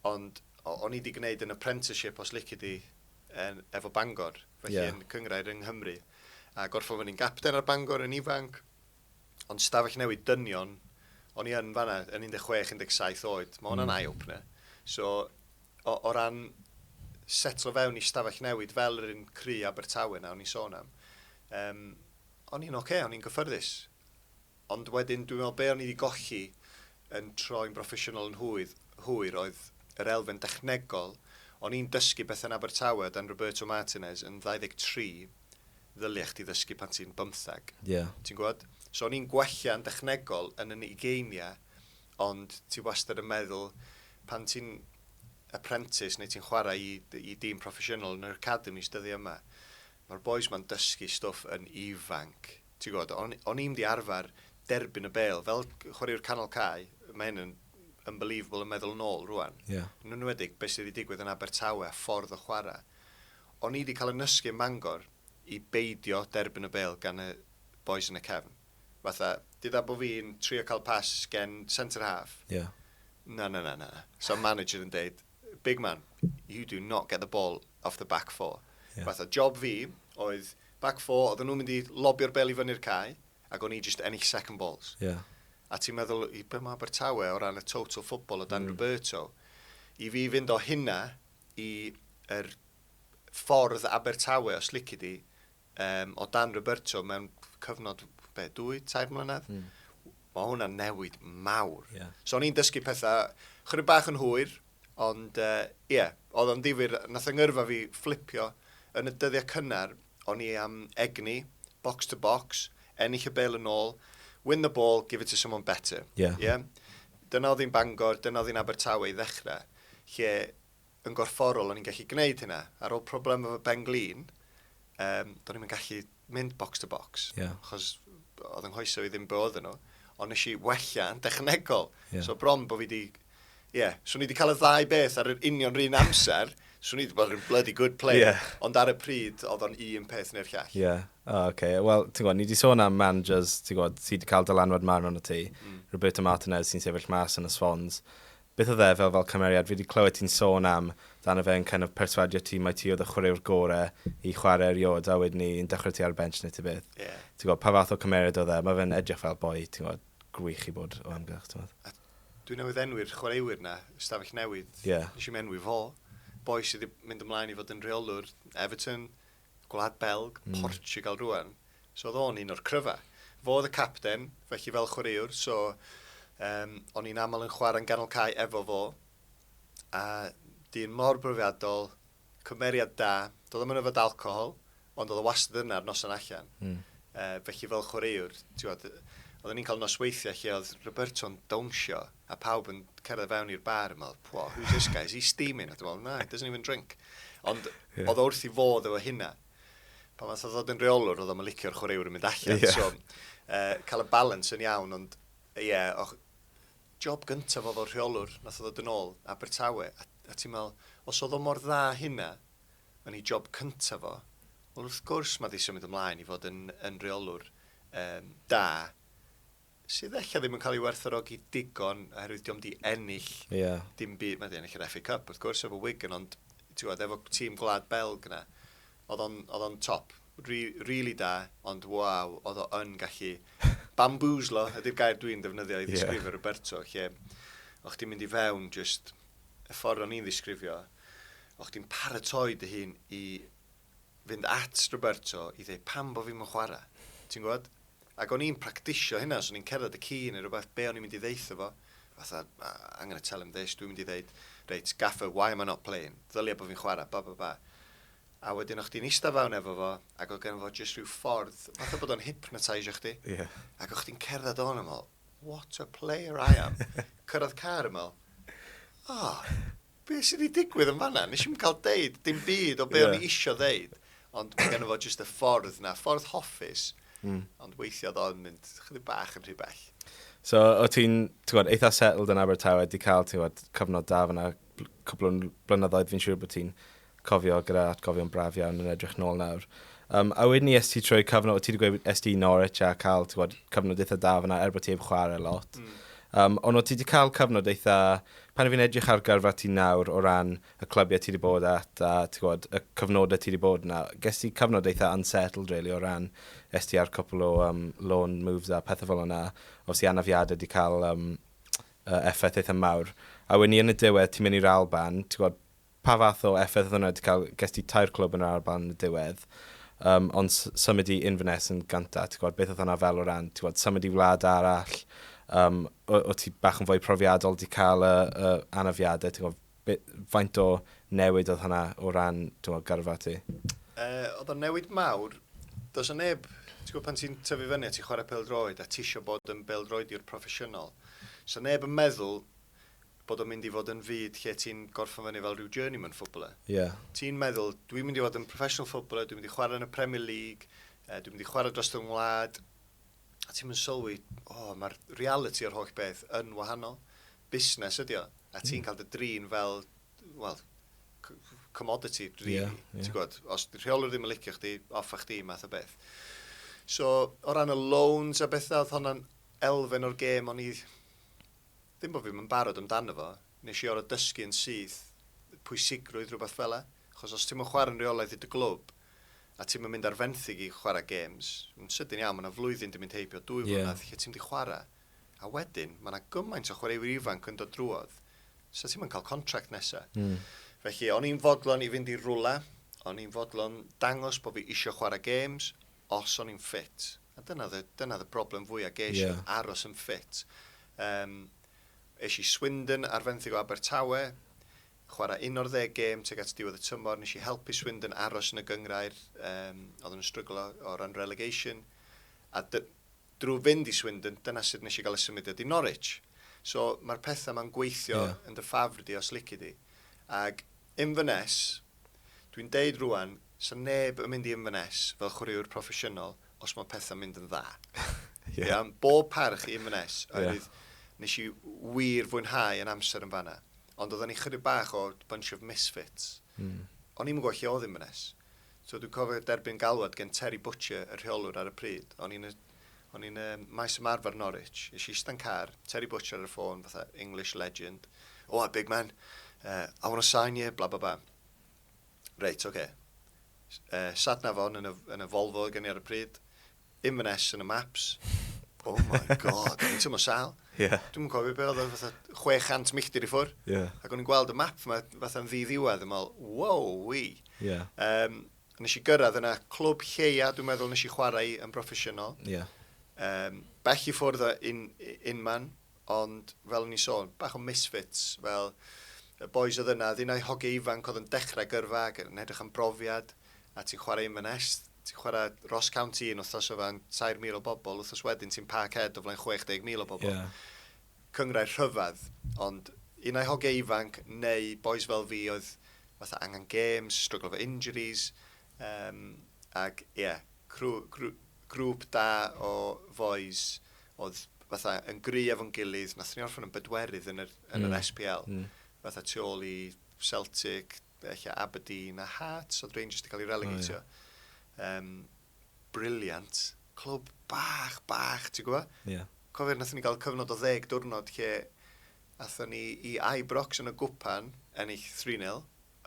Ond o'n i 'di gwneud yn apprenticeship os lici di yn, efo Bangor, felly yeah. yn cyngrair yng Nghymru. A gorffo fyny'n gapten ar Bangor yn ifanc, ond stafell newid dynion, o'n i yn fanna yn 16-17 oed, mae hwnna'n mm. eye-opener. So, o, o ran setlo fewn i stafell newid fel yr un cry Abertawe na o'n i'n sôn am, um, o'n i'n oce, okay, o'n i'n gyffyrddus. Ond wedyn dwi'n meddwl be o'n i 'di golli yn troi'n broffesiynol yn hwyr, hwyr oedd yr elfen dechnegol. O'n i'n dysgu pethe yn Abertawe o dan Roberto Martinez yn 23, ddylia chdi ddysgu pan ti'n bymtheg. Ie. Ti'n gwbod? So o'n i'n gwella yn dechnegol yn 'y ugeinia, ond ti wastad yn meddwl pan ti'n apprentice neu ti'n chwarae i i dîm proffesiynol yn yr academis dyddie yma, Ma'r bois ma'n dysgu stwff yn ifanc. Ti'n gwbod, o'n i, o'n i'm 'di arfer derbyn y bêl. Fel c- chwaraewr canol cae, ma' hyn yn unbelievable yn meddwl yn ôl rŵan. Ie. Yn enwedig be' sy' 'di digwydd yn Abertawe a ffordd o chwara'. O'n i 'di ca'l 'y nysgu yn Mangor i beidio derbyn y bêl gan y bois yn y cefn. Fatha, deuda bo' fi'n trio ca'l pas gen centre half. Ie. Na, na, na, na. Sa'r manager yn deud, big man, you do not get the ball off the back four. Yeah. Fatha, job fi oedd back four, oedden nhw'n mynd i lobio'r bel i fyny'r cae, ac o'n i just ennill second balls. Yeah. A ti'n meddwl, i be mae Abertawe o ran y total football o Dan mm. Roberto, i fi fynd o hynna i er ffordd Abertawe, os lici di, um, o dan Roberto mewn cyfnod, be, dwy, tair mlynedd? Mm. Mae hwnna'n newid mawr. Yeah. So o'n i'n dysgu pethau chydig bach yn hwyr, ond ie, uh, yeah, oedd o'n ddifur, nath yngyrfa fi fflipio yn y dyddiau cynnar, o'n i am egni, box to box, ennill y bel yn ôl, win the ball, give it to someone better. Yeah. yeah? Dyna oedd hi'n Bangor, dyna oedd hi'n Abertawe i ddechrau, lle yn gorfforol o'n i'n gallu gwneud hynna. Ar ôl problem efo ben glin, um, do'n i'n gallu mynd box to box. Yeah. Chos oedd yng nghoeso i ddim bod yn nhw. Ond nes i wella yn dechnegol. Yeah. So bron bod fi wedi... Ie, yeah. so ni wedi cael y ddau beth ar yr union rhan amser. So ni wedi bod yn bloody good play. Yeah. Ond ar y pryd, oedd o'n un peth neu'r llall. Ie. Yeah. O, oh, okay. Wel, ti'n gwybod, ni wedi sôn am managers, ti'n gwybod, ti wedi cael dylanwad mawr arno ti. Mm. Roberto Martinez sy'n sefyll mas yn y Swans. Beth oedd e fel fel cymeriad? Fi 'di clywed ti'n sôn am dano fe yn kind of perswadio ti mai ti oedd y chwaraewr gore i chwarae erioed a wedyn 'ny yn dechrau ti ar y bench neu tybeth. Ie. Ti'n gwbod, pa fath o cymeriad oedd e? Mae fe'n edrych fel boi, ti'n gwbod, gwych i bod o amgylch, ti'n gwbod. A dwi newydd enwi'r chwaraewyr 'na, ystafell newydd. Ie. Nes i'm enwi fo. Boi sydd 'di mynd ymlaen i fod yn rheolwr Everton, Gwlad Belg, Portugal rŵan. So oedd o'n un o'r cryfa. Fo oedd y capten, felly fel chwaraewr, so um, o'n i'n aml yn chwarae'n ganol cae efo fo. A dyn mor brofiadol, cymeriad da, doedd o'n mynd fod alcohol, ond oedd o wastad yna ar noson allan. Mm. Uh, felly fel chwaraewr, ti'n oedd, oedden ni'n cael nosweithiau lle oedd Roberto'n dawnsio a pawb yn cerdded fewn i'r bar yn meddwl, pwa, who's this guy, is he steaming? A dwi'n meddwl, na, he doesn't even drink. Ond yeah. oedd wrth i fod efo hynna. Pa math oedd ddod yn reolwr, oedd o'n licio'r chwaraewr yn mynd allan. Yeah. So, uh, cael y balance yn iawn, ond ie, yeah, och, job gyntaf oedd o'r rheolwr, nath oedd yn ôl, Abertawe, a, a ti'n meddwl, os oedd o mor dda hynna, yn ei job cyntaf o, wel wrth gwrs mae ddisio mynd ymlaen i fod yn, yn reolwr um, da, sydd ella ddim yn cael ei werthorogi digon oherwydd diom di ennill yeah. dim byd, mae di ennill yr FA Cup wrth gwrs efo Wigan ond tiwod efo tîm gwlad Belg yna oedd o'n, oedd o'n top Re, really da ond waw oedd o'n gallu bamboozlo ydy'r gair dwi'n defnyddio i ddisgrifio yeah. Roberto lle o'ch ti'n mynd i fewn just y ffordd o'n i'n ddisgrifio o'ch ti'n paratoi dy hun i fynd at Roberto i ddeu pam bo fi'm yn chwara. Ti'n gwbod? Ac o'n i'n practisio hynna, os o'n i'n cerdded y ci neu rhywbeth, be o'n i'n mynd i ddeutho fo? Fatha, I'm gonna tell him this, dwi'n mynd i ddeud, reit, gaffer, why am I not playing? Ddylia bo fi'n chwara, ba ba ba. A wedyn o'ch di'n eista fawn efo fo, ac oedd gen fo jyst rhyw ffordd, fatha bod o'n hypnotisio chdi. Yeah. Ac o'ch di'n cerdded o'n ymol, what a player I am. Cyrraedd car ymol, oh, Be sydd wedi digwydd yn fanna? Nes i'm cael deud dim byd o be yeah. o'n i isio ddeud. Ond mae gen fo jyst y ffordd na, ffordd hoffus. Mm. Ond weithiau oedd o'n mynd chydig bach yn rhy bell. So, o ti'n, ti'n gwybod, eitha settled yn Abertawe, di cael, ti'n gwybod, cyfnod da fyna, cwbl o blynyddoedd, fi'n siŵr bod ti'n cofio gyda atgofion braf iawn yn edrych nôl nawr. Um, a wedyn ni esti trwy cyfnod, o ti wedi gweud esti i Norwich a cael gwybod, cyfnod eitha da fyna er bod ti heb chwarae lot. Mm. Um, ond o ti wedi cael cyfnod eitha, pan fi'n edrych ar gyrfa ti nawr o ran y clybiau ti wedi bod at a gwybod, y cyfnodau ti wedi bod yna, ges ti cyfnod eitha unsettled really o ran esti ar cwpl o um, loan moves a pethau fel yna. Os i anafiadau wedi cael um, uh, effaith eitha mawr. A wedyn ni yn y diwedd, ti'n mynd i'r Alban, ti'n gwybod, Pa fath o effaith oedd hwnna 'di cael? Ges ti tair clwb yn yr Alban yn y diwedd, yym, ond s- symud i Inverness yn gynta, ti'n gwybod, beth oedd hwnna fel o ran, ti'n gwybod, symud i wlad arall, yym, o- o't ti bach yn fwy profiadol, 'di cael y, y anafiadau, ti'n gwybod, be, faint o newid oedd hwnna o ran, ti'n gwybod, gyrfa ti? Yy, oedd o'n newid mawr. Does 'na neb, ti'n gwybod, pan ti'n tyfu fyny a ti'n chwarae pêl-droed a ti isio bod yn bêl-droediwr proffesiynol, 'sa neb yn meddwl bod o'n mynd i fod yn fyd lle ti'n gorffen fyny fel rhyw journeyman footballer. Yeah. Ti'n meddwl, dwi'n mynd i fod yn professional footballer, dwi'n mynd i chwarae yn y Premier League, uh, dwi'n mynd i chwarae dros fy ngwlad. A ti'n mynd sylwi, o, oh, mae'r reality o'r holl beth yn wahanol. Busnes ydi o. A ti'n mm. cael dy drin fel, wel, commodity, really. Yeah, yeah. Ti'n gwybod, os rheolwr ddim yn licio chdi, off a chdi, math o beth. So, o ran y loans a bethau, oedd hwnna'n elfen o'r gêm o'n i Ddim bo' fi'm yn barod amdano fo, nes i or'o' dysgu yn syth pwysigrwydd rwbath fela, achos os ti'm yn chwara'n reolaidd i dy glwb, a ti'm yn mynd ar fenthyg i chwara gêms, yn sydyn iawn ma' 'na flwyddyn 'di mynd heibio, dwy flynedd, lle ti'm 'di chwara, a wedyn, ma' 'na gymaint o chwaraewyr ifanc yn dod drwodd, sa ti'm yn ca'l contract nesa. Felly, o'n i'n fodlon i fynd i rwla, o'n i'n fodlon dangos bo' fi isio chwara gêms, os o'n i'n ffit. A dyna oedd y, dyna oedd y broblem fwya ges i, yeah. aros yn ffit. Um, es i Swindon ar fenthyg o Abertawe, chwarae un o'r ddeg gêm teg at diwedd y tymor, nes i helpu Swindon aros yn y gyngrair, um, oedd yn strygl o, o ran relegation, a dy, drwy fynd i Swindon, dyna sut nes i gael y symudiad i Norwich. So mae'r pethau mae'n gweithio yeah. yn dy ffafr di os lici di. Ac Inverness, Dwi'n deud rwan, sa neb yn mynd i Inverness fel chwaraewr proffesiynol os mae pethau'n mynd yn dda. Ie. Ia? Bob parch i Inverness, oherwydd nes i wir fwynhau yn amser yn fanna. Ond oedden ni chydig bach o bunch of misfits. Mm. O'n i'm yn gwybod lle oedd Inverness. So dwi'n cofio derbyn galwad gen Terry Butcher, y rheolwr ar y pryd. O'n i'n y O'n i'n y maes ymarfer Norwich, nes i ista'n car, Terry Butcher ar y ffôn, fatha English legend. Oh, a big man, uh, I want to sign you, bla bla bla. Reit, oce. Okay. Uh, sat na fo'n yn y, yn y Volvo gen i ar y pryd, Inverness yn y maps. Oh my god, o'n i'n tymlo sal. Yeah. Dwi'n cofio be oedd fatha 600 milltir i ffwr. Yeah. Ac o'n i'n gweld y map yma fatha'n ddi-ddiwedd, yn meddwl, wow, wi. Yeah. Um, Nes i gyrraedd yna, clwb lleia, dwi'n meddwl nes i chwarae yn broffesiynol. Yeah. Um, bell i ffwrdd yn unman, ond fel o'n i'n sôn, bach o misfits, fel y boys oedd yna, ddyn o'i hoge ifanc oedd yn dechrau gyrfa ac yn edrych am brofiad, a ti'n chwarae yn Inverness, ti'n chwarae Ross County yn wythnos o fan 3,000 o bobl, wythnos wedyn ti'n Parkhead o flaen 60,000 o bobl. Yeah. cynghrair rhyfedd, ond un ai hogiau ifanc neu bois fel fi oedd fatha angen gêms, stryglo efo injuries, yym, ac ie, crw- grw- grŵp da o fois oedd fatha yn gry efo'n gilydd, nathon ni orffen yn bedwerydd yn yr, yn yr SPL, fatha tu ôl i Celtic, Be ella Aberdeen a Hearts oedd Rangers wedi cael ei relegatio. Oh, yeah. um, briliant. Clwb bach, bach, ti'n gwybod? Ie. Yeah. Cofio, nath ni gael cyfnod o ddeg diwrnod lle atho ni i Ibrox yn y gwpan, ennill 3-0,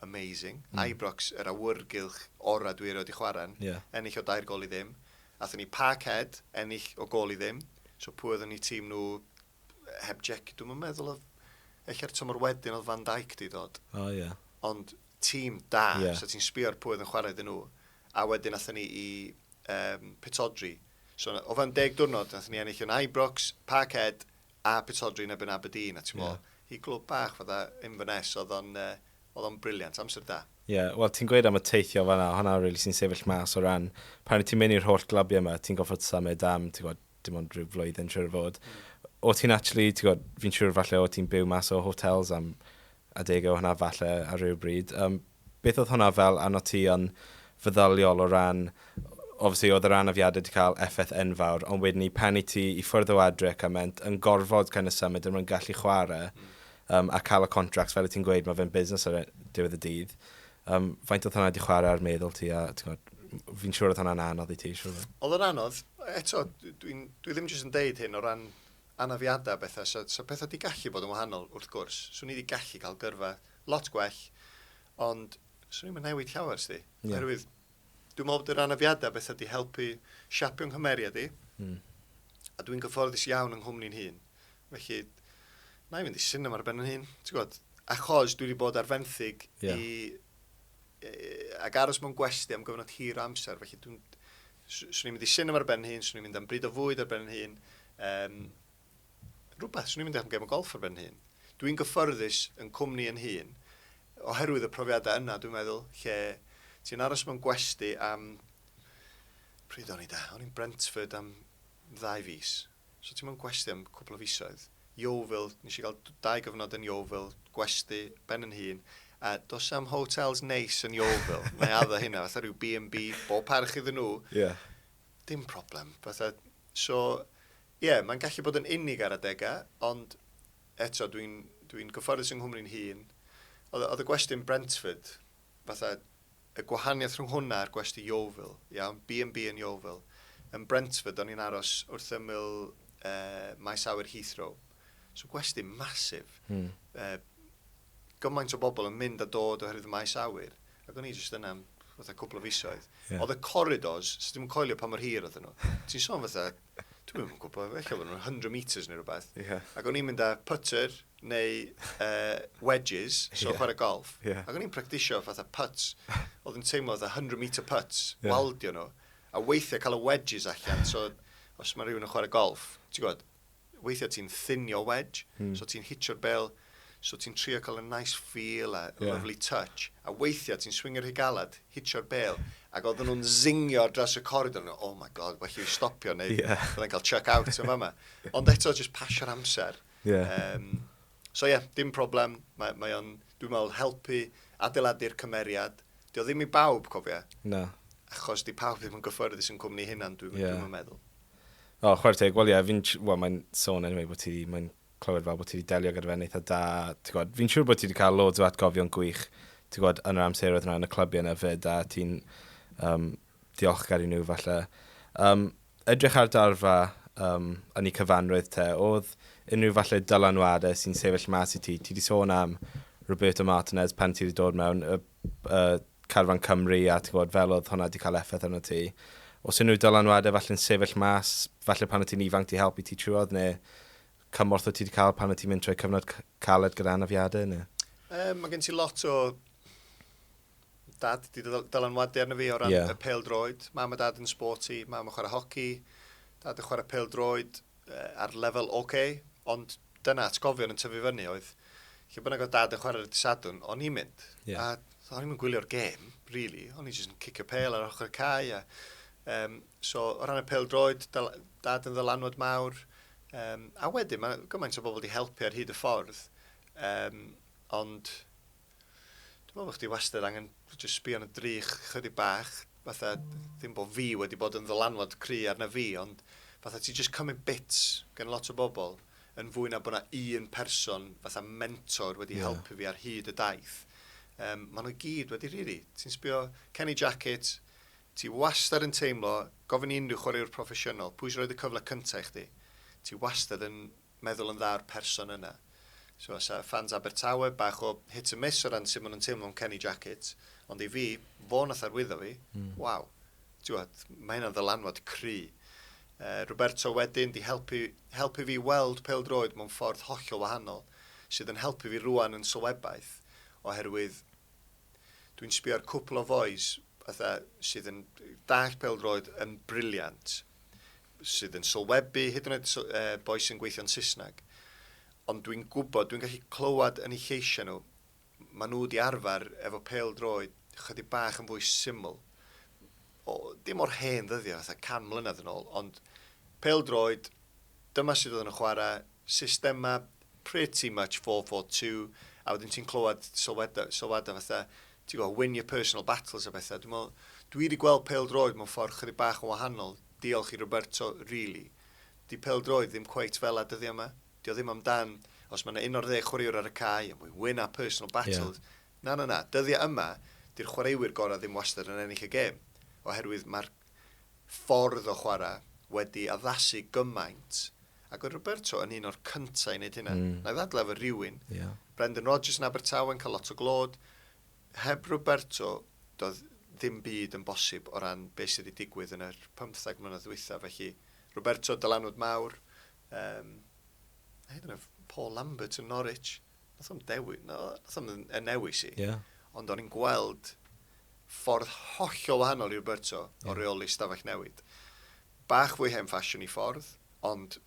amazing. Mm. Ibrox, yr awyrgylch ora dwi erioed i chwarae'n, yeah. ennill o dair gol i ddim. Atho ni Parkhead, ennill o gol i ddim. So pwy oedd yn ei tîm nhw heb Jeki, dwi'm yn meddwl oedd... Ella'r tymor wedyn oedd Van Dijk di dod. O, ie. Ond tîm da, yeah. so ti'n sbio ar pwy oedd yn chwarae iddyn nhw. A wedyn athyn ni i um, Pitodri. So o fewn deg diwrnod, athyn ni ennill yn Ibrox, Parkhead a Pitodri yn ebyn Aberdeen. A ti'n yeah. i glwb bach fydda Inverness, oedd o'n uh, oedd o'n briliant, amser da. Ie, yeah, wel ti'n gweud am y teithio fanna, hwnna rili really sy'n sefyll mas o ran, pan ti'n mynd i'r holl glabiau yma, ti'n gofod symud am, ti'n gwybod, dim ond rhyw flwyddyn siwr o fod. O ti'n actually, ti'n gwybod, fi'n siwr falle o ti'n byw mas o hotels am adegau o hwnna falle ar rhyw bryd. Um, beth oedd hwnna fel arno ti yn feddyliol o ran, obviously oedd yr anafiadau wedi cael effaith enfawr, ond wedyn ni pen i ti i ffwrdd o adre ac ament yn gorfod kind of symud yn rhan gallu chwarae um, a cael y contracts fel y ti'n gweud, mae fe'n busnes ar e, diwedd y dydd. Yym, faint oedd hwnna 'di chwarae ar meddwl ti a, ti'n gwbod, m- fi'n siŵr oedd hwnna'n anodd i ti, siŵr. Oedd o'n anodd. Eto, dw- dwi'n, dwi ddim jyst yn deud hyn o ran anafiadau a bethau, so, so pethau 'di gallu bod yn wahanol, wrth gwrs. Swn i 'di gallu cael gyrfa lot gwell, ond swn i'm yn newid llawer, 'sdi. Ie. Oherwydd, dwi'n meddwl bod yr anafiadau beth ydy helpu siapio nghymeriad i, mm. a dwi'n gyfforddus iawn yng nghwmni'n hun. Felly, na i fynd i sinema ar ben yn hun, ti'n gwybod, achos dwi wedi bod ar fenthyg yeah. i, ac aros mewn gwesti am gyfnod hir amser, felly dwi'n, swn i'n mynd i sinema ar ben yn hun, swn i'n mynd am bryd o fwyd ar ben yn hun, um, rhywbeth, swn i'n mynd am gem o golff ar ben hun. Dwi'n gyffyrddus yn cwmni yn hun, oherwydd y profiadau yna, dwi'n meddwl, lle ti'n aros mewn gwesti am... Pryd o'n i da? O'n i'n Brentford am ddau fus. So ti'n mewn gwesti am cwpl o fisoedd. Yeovil, nes i gael dau gyfnod yn Yeovil, gwesti, ben yn hun, a dos am hotels neis yn Yeovil, mae addo hynna, fatha rhyw B&B, bob parch iddyn nhw. Yeah. Dim problem. Fatha, so, Ie, mae'n gallu bod yn unig ar adegau, ond eto, dwi'n, dwi'n gyfforddus yng Nghymru'n hun. Oedd, oedd y gwestiwn Brentford, fatha, y gwahaniaeth rhwng hwnna a'r gwesti Yeovil, iawn, B&B yn Yeovil. Yn Brentford, o'n i'n aros wrth ymyl uh, maes awyr Heathrow. So gwesti masif. Mm. Uh, gymaint o bobl yn mynd a dod oherwydd y maes awyr. Ac o'n i jyst yna am fatha cwpl o fisoedd. Yeah. Oedd y corridors, sydd ddim yn coelio pa mor hir oedd nhw. Ti'n sôn fatha Dwi'n mynd yn gwybod, eich bod nhw'n 100 metres neu rhywbeth. Yeah. Ac o'n i'n mynd â putter neu uh, wedges, so yeah. chwarae golf. Yeah. Ac o'n i'n practisio fatha putts. Oedd yn teimlo fatha 100 metre putts, yeah. waldio nhw. A weithiau cael y wedges allan, so os mae rhywun yn chwarae golf, ti'n gwybod, weithiau ti'n thinio wedge, hmm. so ti'n hitio'r bel, So ti'n trio cael y nice feel a yeah. lovely touch, a weithiau ti'n swingio rhy galad, hitio'r bel, ac oedden nhw'n zingio dros y coridor, nhw, oh my god, well you stopio, neu yeah. oedden cael chuck out yn fama. Ond eto, just pasio'r amser. Yeah. Um, so ie, yeah, dim problem, mae, mae o'n, dwi'n meddwl, helpu adeiladu'r cymeriad. Dio ddim i bawb, cofia. Na. Achos di pawb ddim yn gyffyrddus yn cwmni hynna'n, dwi'n yeah. dwi meddwl. O, oh, chwer teg, wel ie, yeah, fi'n, wel, mae'n sôn anyway bod ti, mae'n clywed fel bod ti wedi delio gyda fe'n eitha da. Ti'n gwybod, fi'n siŵr bod ti wedi cael loads o atgofion gwych, ti'n gwybod, yn yr amseroedd yna yn y clybiau yna fyd, a ti'n um, diolchgar i nhw falle. Um, edrych ar darfa um, yn ei cyfanrwydd te, oedd unrhyw falle dylanwadau sy'n sefyll mas i ti? Ti wedi sôn am Roberto Martinez pan ti wedi dod mewn, y y carfan Cymru a ti'n gwybod fel oedd hwnna wedi cael effaith arno ti. Os unrhyw dylanwadau falle'n sefyll mas, falle pan o ti'n ifanc di helpu ti trwodd neu cymorth o ti wedi cael pan o ti'n mynd trwy cyfnod caled gyda anafiadau neu? E, mae gen ti lot o dad di dylanwadu arno fi o ran yeah. y pel droed. Mam a dad yn sporty, mam yn chwarae hoci, dad yn chwarae pel droed. ar lefel ok, ond dyna atgofion yn tyfu fyny oedd, lle bynnag oedd dad yn chwarae ar y disadwn, o'n i'n mynd. Yeah. A o'n i'n mynd gwylio'r gêm, really. O'n i'n just yn cicio pel ar ochr y cae. A, um, so, o ran y pel droed, dad yn ddylanwad mawr. Um, a wedyn, mae gymaint o bobl wedi helpu ar hyd y ffordd. Um, ond, Dwi'n meddwl bod chdi wastad angen just sbio yn y drych chydig bach, fatha, ddim bod fi wedi bod yn ddylanwad cry arna fi, ond fatha ti just cymryd bits gen lot o bobl, yn fwy na bod yna un person, fatha mentor, wedi yeah. helpu fi ar hyd y daith. Um, maen nhw gyd wedi rhiri. Really. Ti'n sbio Kenny Jacket, ti wastad yn teimlo, gofyn i unrhyw chwaraewr proffesiynol, pwy sy'n rhoi y cyfle cyntaf i chdi? Ti wastad yn meddwl yn dda o'r person yna. So os a ffans Abertawe, bach o hit and miss o ran sut maen nhw'n teimlo am Kenny Jackett, ond i fi, fo nath arwyddo fi, mm. waw, tiwod, mae hynna'n ddylanwad cry. Uh, Roberto wedyn di helpu, helpu fi weld peldroed mewn ffordd hollol wahanol, sydd yn helpu fi rwan yn sylwebaeth, oherwydd dwi'n sbio ar cwpl o fois sydd yn dall peldroed yn briliant, sydd yn sylwebu, hyd yn oed boi sy'n gweithio'n Saesneg. Ond dwi'n gwybod, dwi'n gallu clywed yn ei lleisiau nhw, maen nhw wedi arfer efo pel droed chydig bach yn fwy syml. O, dim o'r hen ddyddiau, fatha can mlynedd yn ôl, ond pel droed, dyma sydd oedd yn y chwarae, systemau pretty much four four two a wedyn ti'n clywed sylwadau, sylwadau fatha, ti'n gwybod, win your personal battles a bethau. Dwi'n meddwl, dwi wedi gweld peldroed mewn ffordd chydig bach yn wahanol, diolch i Roberto, really. Di peldroed ddim cweit fel a dyddiau yma. Di o ddim amdan, os mae yna un o'r ddeg chwaraewr ar y cae, and we win our personal battles. Yeah. Na, na, na, dyddiau yma, di'r chwaraewyr gorau ddim wastad yn ennill y gêm, oherwydd mae'r ffordd o chwarae wedi addasu gymaint Ac oedd Roberto yn un o'r cyntaf i wneud hynna. Mm. Na i ddadle efo rhywun. Yeah. Brendan Rodgers yn Abertawe yn cael lot o glod. Heb Roberto, doedd ddim byd yn bosib o ran beth sydd wedi digwydd yn yr 15 mlynedd ddwytha. Felly, Roberto, dylanwad mawr. Um, hyd yn oed Paul Lambert yn Norwich. Nath o'n dewi, no, nath o'n yn newis i. Yeah. Ond o'n i'n gweld ffordd hollol wahanol i Roberto yeah. o reoli stafell newid. Bach fwy hen ffasiwn i ffordd, ond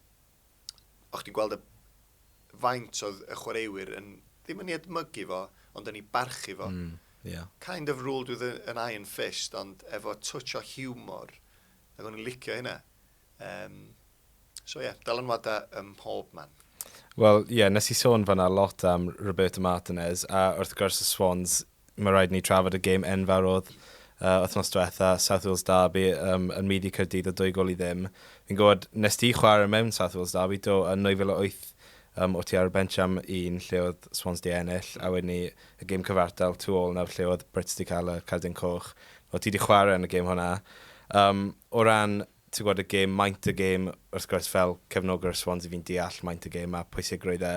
o' chdi'n gweld y faint oedd y chwaraewyr yn, ddim yn ei edmygu fo, ond yn ei barchu fo. Mm, ie. Kind of ruled with an iron fist, ond efo twtsh o hiwmor. Ac o'n i'n licio hynna. Um, so ie, yeah, dylanwadau ym mhob man. Wel, ie, yeah, nes i sôn fanna lot am Roberto Martinez, a wrth gwrs y Swans mae rhaid ni trafod y gêm enfawr oedd uh, wythnos diwetha, South Wales Derby, um, yn myd i Cyrdydd o dwy gol i ddim. Fi'n gwybod, nes ti chwarae mewn South Wales Derby, do, yn 2008, um, o ti ar y bench am un lle oedd Swans di ennill, a wedyn ni y gêm cyfartal tu ôl nawr lle oedd Brits di cael y cardyn coch. O ti di chwarae yn y gêm hwnna. Um, o ran ti'n gwybod, y gêm, maint y gêm, wrth gwrs, fel cefnogwr Swans i fi'n deall maint y gêm a pwysigrwydd e.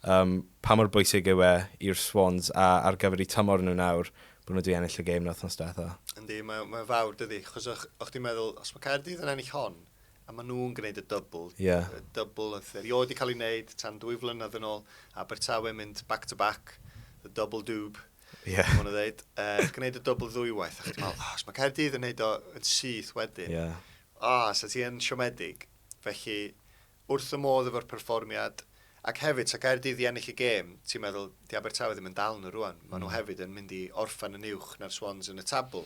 Um, pa mor bwysig yw e i'r Swans a ar gyfer i tymor nhw nawr bod nhw wedi ennill y gêm na wythnos diwetha? Yndi, mae'n mae fawr dydy, chos o'ch, o'ch ti'n meddwl, os mae Caerdydd yn ennill hon, a maen nhw'n gwneud y dybl, yeah. y dybl oedd erioed wedi cael ei wneud tan dwy flynedd yn ôl, Abertawe mynd back-to-back, -back, the double doob, Yeah. Mae'n dweud, uh, gwneud y dwbl ddwywaith, a chdi'n meddwl, oh, mae Caerdydd yn gwneud o yn syth wedyn. Yeah. O, oh, so ti yn siomedig. Felly, wrth y modd efo'r perfformiad, ac hefyd, so Caerdydd i ennill y gêm, ti'n meddwl, di Abertawe ddim yn dal nhw rwan. Mae nhw mm. hefyd yn mynd i orffan yn uwch na'r Swans yn y tabl.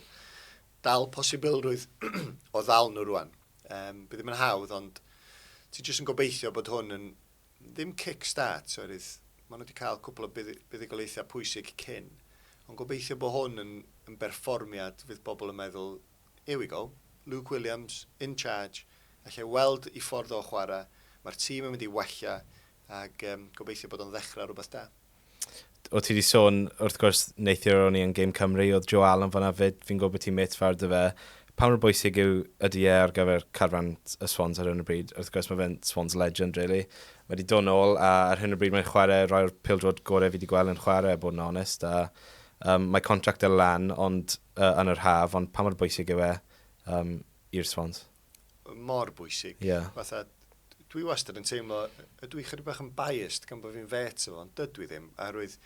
Dal posibilrwydd o ddal nhw rwan. Um, bydd ddim yn hawdd, ond ti'n jyst yn gobeithio bod hwn yn Ddim kick start oherwydd maen nhw wedi cael cwpl o buddugoliaethau pwysig cyn, ond gobeithio bod hwn yn yn berfformiad fydd pobl yn meddwl 'here we go, Luke Williams in charge, allai weld ei ffordd o chwarae, mae'r tîm yn mynd i wella ac gobeithio bod o'n ddechrau rhywbeth da. o ti wedi sôn, wrth gwrs, neithiwr o'n i yn Game Cymru, oedd Joe Allen fanna fyd, fi'n gwybod bod ti'n met fawr dy fe. Pa mor bwysig yw, ydy e ar gyfer carfan y Swans ar hyn o bryd? Wrth gwrs, mae fe'n Swans legend, really. Mae wedi dod nôl, a ar hyn o bryd mae'n chwarae rhai o'r pildrod gorau fi wedi gweld yn chwarae, bod yn onest. A, um, mae contract y lan ond, uh, yn yr haf, ond pa mor bwysig yw e um, i'r Swans? mor bwysig. Yeah. Fatha, dwi wastad yn teimlo, ydw i chydig bach yn biased gan bod fi'n fet efo, ond dydw i ddim, oherwydd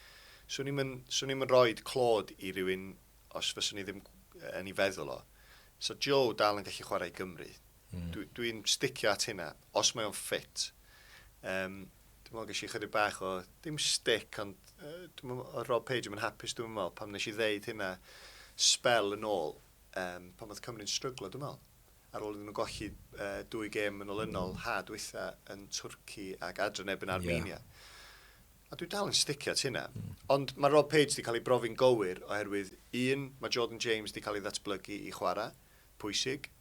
swn i'n swn i'n rhoi clod i rywun os fyswn i ddim yn ei feddwl o. So Joe dal yn gallu chwarae i Gymru. Mm. Dwi'n dwi sticio at hynna, os mae o'n ffit. Um, dwi'n meddwl gysi chydig bach o, dim stick, ond uh, dwi'n meddwl, Rob Page yn hapus dwi'n meddwl, pam nes i ddeud hynna spel yn ôl, um, pan oedd Cymru'n stryglo, dwi'n meddwl. Ar ôl iddyn nhw golli uh, dwy gêm yn olynol ha dwytha yn Twrci ac adre neb yn Armenia. Yeah. A dwi dal yn sticio ti hynna. Mm. Ond mae Rob Page wedi cael ei brofi'n gywir oherwydd un, mae Jordan James wedi cael ei ddatblygu i chwarae, pwysig,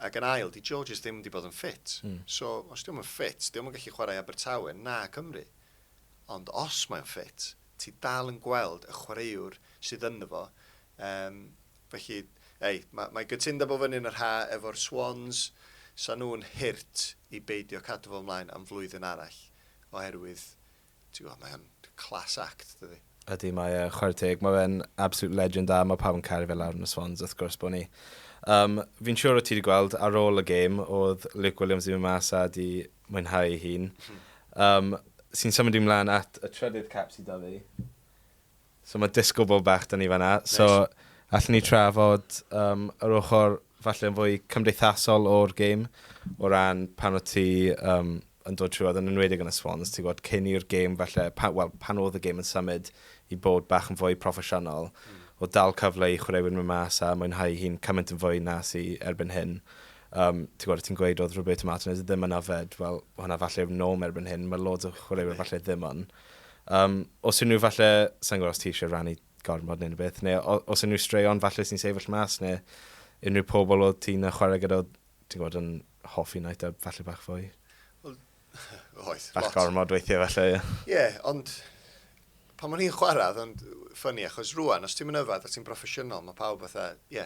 ac yn ail, di Georges ddim wedi bod yn ffit. Mm. So, os diwm yn ffit, diwm yn gallu chwarae Abertawe na Cymru. Ond os mae'n ffit, ti dal yn gweld y chwaraewr sydd ynddo fo, um, Felly, ei, mae, mae gytundeb o fyny'n yr haf efo'r Swans, 'sa nhw'n hurt i beidio cadw fo mlaen am flwyddyn arall, oherwydd, ti'n gwybod, mae o'n class act, dydi? Ydy, mae e, chwarae teg, mae fe'n absolute legend a mae pawb yn caru fe lawr yn y Swans, wrth gwrs bod ni. Um, fi'n siŵr o ti wedi gweld ar ôl y gêm, oedd Luke Williams wedi mynd mas a wedi mwynhau ei hun. Um, sy'n symud i mlaen at y trydydd cap sydd da fi. So mae disco ball bach 'da ni fan'na. So allen ni trafod yym yr ochr falle yn fwy cymdeithasol o'r gêm o ran pan o't ti yym yn dod trwodd yn enwedig yn y Swans ti'n gwbod cyn i'r gêm falle pa- wel pan oedd y gêm yn symud i bod bach yn fwy proffesiynol o dal cyfle i chwaraewyr mynd mas a mwynhau hi'n cymaint yn fwy na sy erbyn hyn. Um, ti'n gwybod, ti'n gweud oedd Roberto Martinez ddim yna fed, wel, hwnna falle yw norm erbyn hyn, mae loads o chwaraewyr falle ddim ond. Yym, os unrhyw falle, sa'n gwybod os ti eisiau rannu gormod neu rhywbeth, neu o- os unrhyw straeon falle sy'n sefyll mas, neu unrhyw pobl oedd ti'n yy, chwarae gyda, oedd ti'n gwybod yn hoffi Night Out falle bach fwy? Oedd, Bach lot. gormod weithiau falle, ie. Ie, ond pan o'n i'n chwarae, oedd o'n ffynnu, achos rwan, os ti'n mynd yfed a ti'n broffesiynol, mae pawb fatha, ie,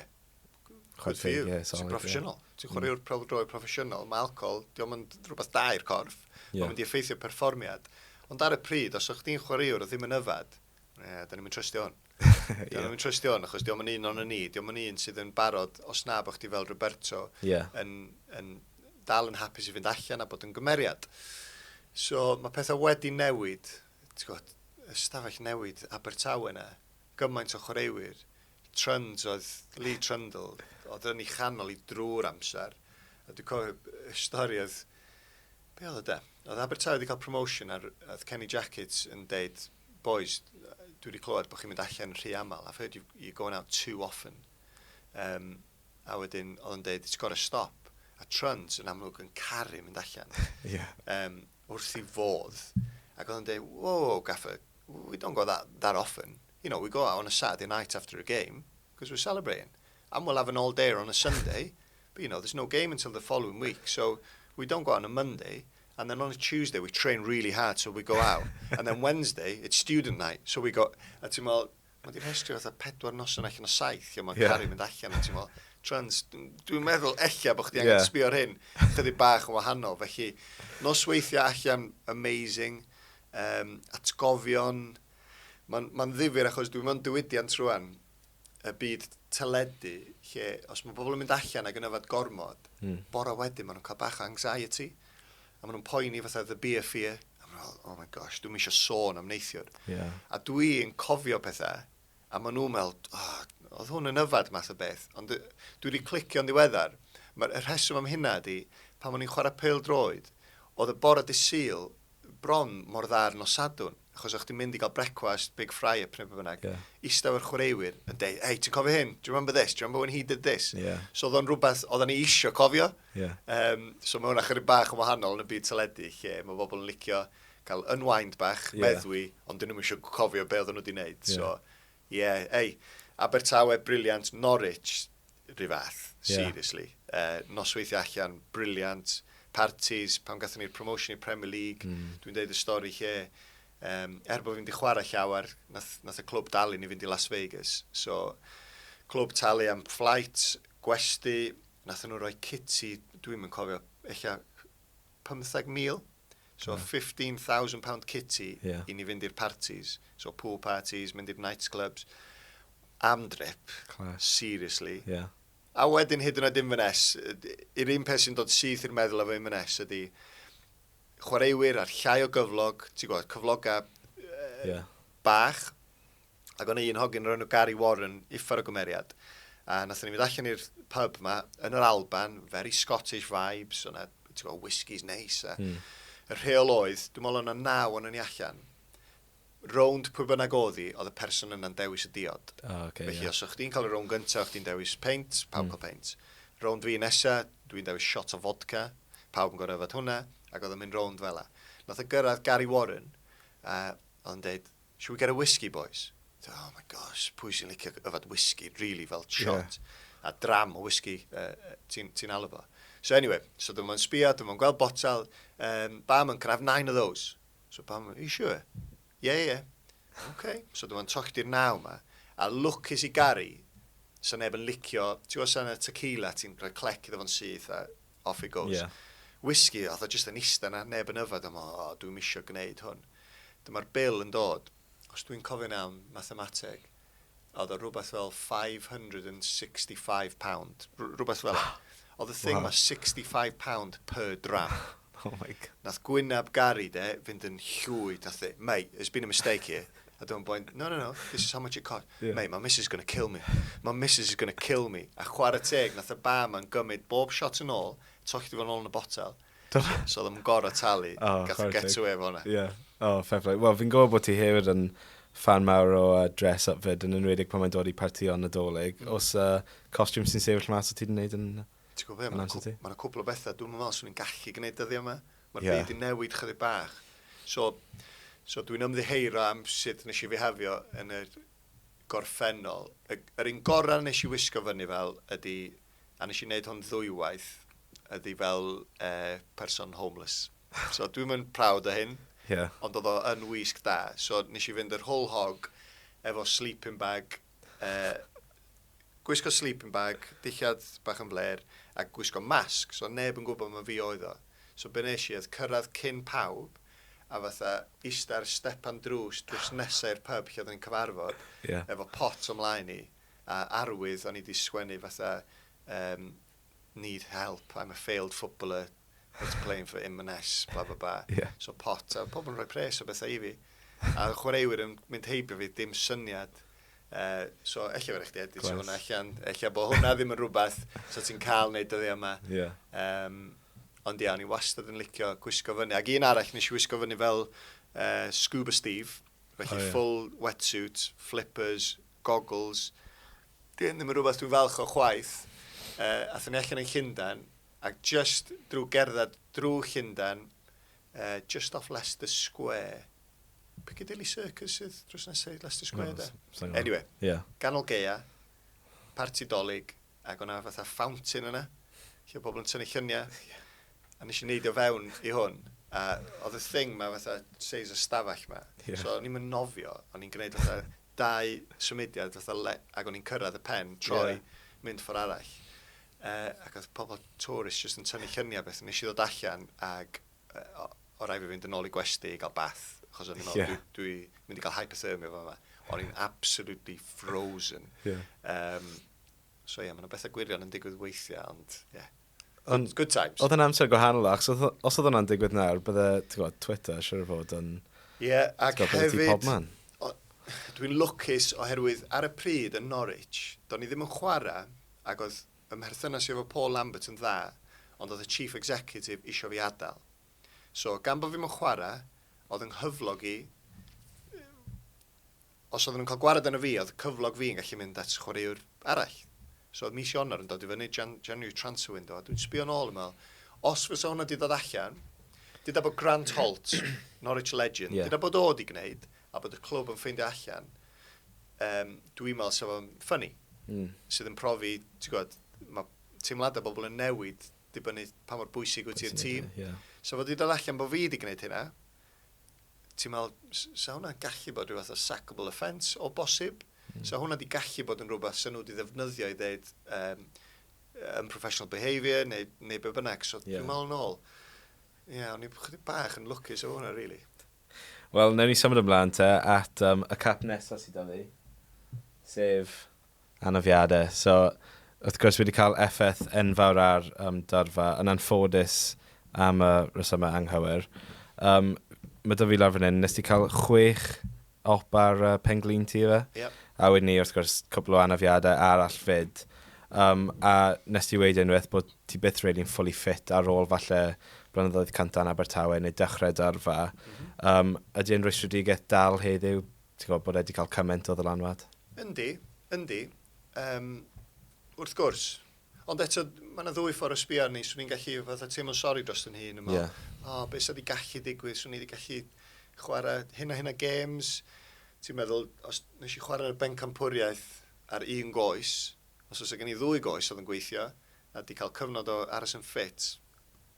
Chwarae teg, ie, solid. Ti'n proffesiynol. Ti'n chwarae yw'r mm. droed proffesiynol. Mae alcohol, diolch yn rhywbeth da i'r corff. Yeah. Mae'n mynd i effeithio perfformiad. Ond ar y pryd, os ydych chi'n chwarae yw'r ddim yn yfad, ie, da ni'n mynd trystio hwn. Da ni'n mynd trystio hwn, achos diolch yn un o'n ni. Diolch yn un sydd yn barod, os na bod chdi fel Roberto, yeah. yn, yn dal yn hapus i fynd allan a bod yn gymeriad. So mae pethau wedi newid, ti'n gwybod, ystafell newid Abertawe yna, gymaint o chwaraewyr, Trund oedd Lee Trundle, oedd yn ei chanol i drwy'r amser. A dwi'n cofio y stori oedd, be oedd o de? Oedd Abertawe wedi cael promotion a oedd Kenny Jackett yn deud, boys, dwi wedi clywed bod chi'n mynd allan rhy aml, I've heard you, you're going out too often. Um, a wedyn oedd yn deud, it's got to stop. A Trund yn amlwg yn caru mynd allan. yeah. um, wrth i fodd. Ac oedd yn deud, whoa, gaffer, we don't go that, that often. you know, we go out on a Saturday night after a game, because we're celebrating, and we'll have an all day on a Sunday, but you know, there's no game until the following week, so we don't go out on a Monday, and then on a Tuesday we train really hard so we go out and then Wednesday it's student night so we go a ti'n meddwl mae wedi rhestru fatha pedwar noson allan o saith lle mae yeah. Cari mynd allan a ti'n meddwl trans dwi'n meddwl eich bod chdi angen yeah. sbio ar hyn chydig bach yn wahanol felly nosweithiau allan amazing um, atgofion Mae'n ma ddifur achos dwi'n mewn diwydiant rwan, y byd teledu, lle os mae pobl yn mynd allan ac yn yfad gormod, mm. bore wedyn maen nhw'n cael bach o anxiety, a maen nhw'n poeni fatha the beer fear, a maen nhw'n oh my gosh, dwi'n eisiau sôn am neithiwr. Yeah. A dwi'n cofio pethau, a maen nhw'n meddwl, oh, oedd hwn yn yfad math o beth, ond dwi wedi clicio'n ddiweddar. Mae'r rheswm am hynna ydy, pan o'n i'n chwarae pel droed, oedd y bore di syl bron mor dda'r nosadwn. achos o'ch ti'n mynd i gael brecwast, big fry up neu beth bynnag, yeah. eistedd o'r chwaraewyr yn dweud, hei, ti'n cofio hyn? Do you remember this? Do you remember when he did this? Yeah. So oedd o'n rhywbeth, oedd ni eisiau cofio. Yeah. Um, so mae hwnna chyrig bach yn wahanol yn y byd teledu, lle mae bobl yn licio cael unwind bach, yeah. meddwi, ond dyn nhw'n eisiau cofio be oedden nhw wedi wneud. Yeah. So, Ie, ei, Abertawe brilliant, Norwich 'ru fath, seriously. Nosweithiau allan, brilliant, parties, pan gathon ni'r promotion i'r Premier League, dwi'n deud y stori lle, er bod fi'n di chwarae llawer, nath y clwb dalu ni fynd i Las Vegas. So, clwb talu am flight, gwesty, nathon nhw roi kit i, dwi'm yn cofio, ella 15,000? So yeah. £15,000 kitty yeah. i ni fynd i'r parties. So pool parties, mynd i'r nightclubs. Am drip. Class. Seriously. Yeah. A wedyn hyd yn oed Inverness, yr un peth sy'n dod syth i'r meddwl efo Inverness ydy chwaraewyr a'r llai o gyflog, ti'n gwybod, cyflogau uh, yeah. bach, Ac o' 'na un hogyn o'r enw Gary Warren uffar o gymeriad. A nathon ni fynd allan i'r pub 'ma yn yr Alban, very Scottish vibes, o' 'na, ti'n gwbod, whiskies neis a... Hmm. ...y rheol oedd, dwi me'wl o' 'na naw onon ni allan. Rownd pwy bynnag o'dd 'i, o'dd y person yna'n dewis y diod. O ocê, ie. Felly os o' chdi'n ca'l y rownd gynta, o' chdi'n dewis peint, pawb yn ca'l peint. Rownd fi nesa, dwi'n dewis shot o fodca, pawb yn gor'o' yfed hwnna, ac o'dd o'n mynd rownd fela. Nath o gyrradd Gary Warren, a o'dd o'n deud, Should we get a whisky boys? T'o' oh my gosh, pwy sy'n licio yfed whisky rili fel shot? Ie. A dram o whisky yy yy ti'n ti'n alw fo. So anyway, so dyma fo'n sbïo, dyma fo'n gweld botel, um, barman, can I have nine of those? So barman, are you sure? Yeah, yeah. OK. So dyma fo'n tochdi'r naw 'ma, a lwcus i Gary, 'sa neb yn licio, ti'n gwbod 'sa 'na tequila, ti'n rhoi clec iddo fo'n syth a off it goes. Yeah. Whisky, oedd o jyst yn ista na, neb yn yfed, a mo, o, dwi ddim eisiau gwneud hwn. Dyma'r bil yn dod, os dwi'n cofio'n iawn, mathemateg, oedd o rhywbeth fel £565, rhywbeth fel e. Oedd y thing wow. ma £65 per dram. Oh my god. Nath gwynab Gary de fynd yn llwyd, nath e, mate, there's been a mistake here. A dyma'n boi'n, no, no, no, this is how much it cost. Yeah. Mate, my missus is gonna kill me. My missus is gonna kill me. A chwarae teg, nath y ba ma'n gymryd bob shot yn ôl, tollti fo'n ôl yn y botel. So oedd yn gorau talu, oh, gath get to away fo'na. Yeah. Oh, fair play. Wel, fi'n gwybod bod ti hefyd yn fan mawr o uh, dress-up fyd, yn enwedig pan mae'n dod i parti o'n nadolig. Mm. Os uh, costiwm sy'n sefyll mas o ti'n gwneud yn... Ti'n gwybod beth, mae'n cwpl o bethau. Dwi'n meddwl swn i'n gallu gwneud dyddiau yma. Mae'r byd yn newid chydig bach. So, so dwi'n ymddiheuro am sut nes i fihafio yn y gorffennol. Y, yr un gorau nes i wisgo fyny fel ydy, a nes i wneud hwn ddwywaith, ydy fel eh, person homeless. So dwi'n mynd proud o hyn, yeah. ond oedd o yn wisg da. So nes i fynd yr whole hog efo sleeping bag, Yy, gwisgo sleeping bag, dillad bach yn flêr, a gwisgo masg, so neb yn gwybod ma fi oedd o. So be nes i oedd cyrraedd cyn pawb, a fatha ista ar stepan drws, drws nesa i'r pub lle oedden ni'n cyfarfod, Ie. efo pot o'm mlaen i, a arwydd o'n i 'di sgwennu fatha, yym, need help, I'm a failed footballer that's playing for Inverness, bla bla bla. Yeah. So pot, a pobl yn rhoi pres o bethau i fi. A chwaraewyr yn mynd heibio fi, dim syniad. Uh, so, efallai fyrwch chi edrych hwnna allan. Efallai bod hwnna ddim yn rhywbeth so ti'n cael wneud dyddi yma. Yeah. Um, ond ia, o'n i wastad yn licio gwisgo fyny. Ac un arall nes i wisgo fyny fel uh, Scuba Steve. Felly oh, yeah. full wetsuit, flippers, goggles, 'Di hyn ddim yn rhywbeth dwi'n falch o chwaith. Yy, athon ni allan yn Llundain, ac jyst drwy gerdded drwy Llundain, yy, jyst off Leicester Square, Piccadilly Circus sydd drws nesaf i Leicester Square, da? Anyway, yeah. ganol geia, parti dolyg, ac o'na fatha fountain yna, lle pobl yn tynnu lluniau, a nes i wneud o fewn i hwn, a oedd y thing ma fatha seis y stafell ma, yeah. so o'n i'n nofio, o'n i'n gwneud fatha dau symudiad fatha le, ac o'n i'n cyrraedd y pen, troi, yeah. mynd ffordd arall. Uh, ac oedd pobl tourist jyst yn tynnu lluniau beth. Nes i ddod allan ac uh, o, o rai fi fynd yn ôl i gwesti i gael bath, achos o'n i'n meddwl, yeah. dwi, dwi mynd i gael hypothermia fo yma. O'n i'n absolutely frozen. Yeah. Um, so ie, yeah, mae'n bethau gwirion yn digwydd weithiau, ond ie. Yeah. Ond, good times. Oedd yn amser gwahanol achos os oedd hwnna'n digwydd nawr, bydde, ti'n gwybod, Twitter, siwr o fod yn... Ie, yeah, ac hefyd... Dwi'n lwcus oherwydd ar y pryd yn Norwich, do'n i ddim yn chwarae, ac oedd ymherthynas i efo Paul Lambert yn dda, ond oedd y chief executive isio fi adael. So, gan bod fi'n yn chwarae, oedd yng nghyflog i Os oedden nhw'n cael gwared arno fi, oedd cyflog fi yn gallu mynd at chwaraewr arall. So oedd mis Ionawr yn dod i fyny, Jan- January transfer window, a dwi'n sbio nôl yn meddwl, os fysa hwnna 'di dod allan, dyda bod Grant Holt, Norwich legend, dyda bod o 'di gwneud, a bod y clwb yn ffeindio allan, yym, dwi'n meddwl 'sa fo'n ffyni. Sydd yn profi, ti'n gwybod, mae teimladau bobl yn newid dibynnu pa mor bwysig wyt ti i'r tîm. 'Sa fo 'di dod allan bod fi 'di gwneud hynna, ti'n meddwl, 'sa hwnna'n gallu bod rhywbeth o sackable offence o bosib? Mm. So hwnna di gallu bod yn rhywbeth sy'n nhw wedi ddefnyddio i ddeud um, unprofessional behaviour neu, neu be bynnag. So yeah. dwi'n meddwl yn ôl, ie, yeah, o'n i'n chydig bach yn lwcus o hwnna, really. Wel, newn ni symud ymlaen te at um, y cap nesaf sydd da fi, sef anafiadau. So, wrth gwrs, wedi cael effaith enfawr ar um, dorfa, yn anffodus am y rhesymau anghywir. Um, mae dy fi lawr fan hyn, nes ti cael chwech op ar uh, penglin ti fe? Yep. A wedyn ni, wrth gwrs, cwbl o anafiadau arall fyd. Um, a nes ti wedi unwaith bod ti byth rili'n really fully fit ar ôl falle blynyddoedd cynta yn Abertawe neu dechrau dorfa. Mm -hmm. um, ydy e'n rwystredigaeth dal heddiw Ti'n gwybod bod e 'di cael cymaint o ddylanwad? Yndi, yndi. Yym, wrth gwrs. Ond eto, mae yna ddwy ffordd o sbio arni. Swn i'n gallu fatha teimlo'n sori dros yn hun yn meddwl, yeah. o, oh, beth sydd wedi gallu digwydd? Swn i wedi gallu chwarae hyn a hyn a games. Ti'n meddwl, os nes i chwarae ar y bencampwriaeth ar un goes, os oes gen i ddwy goes oedd yn gweithio, a wedi cael cyfnod o aros yn ffit,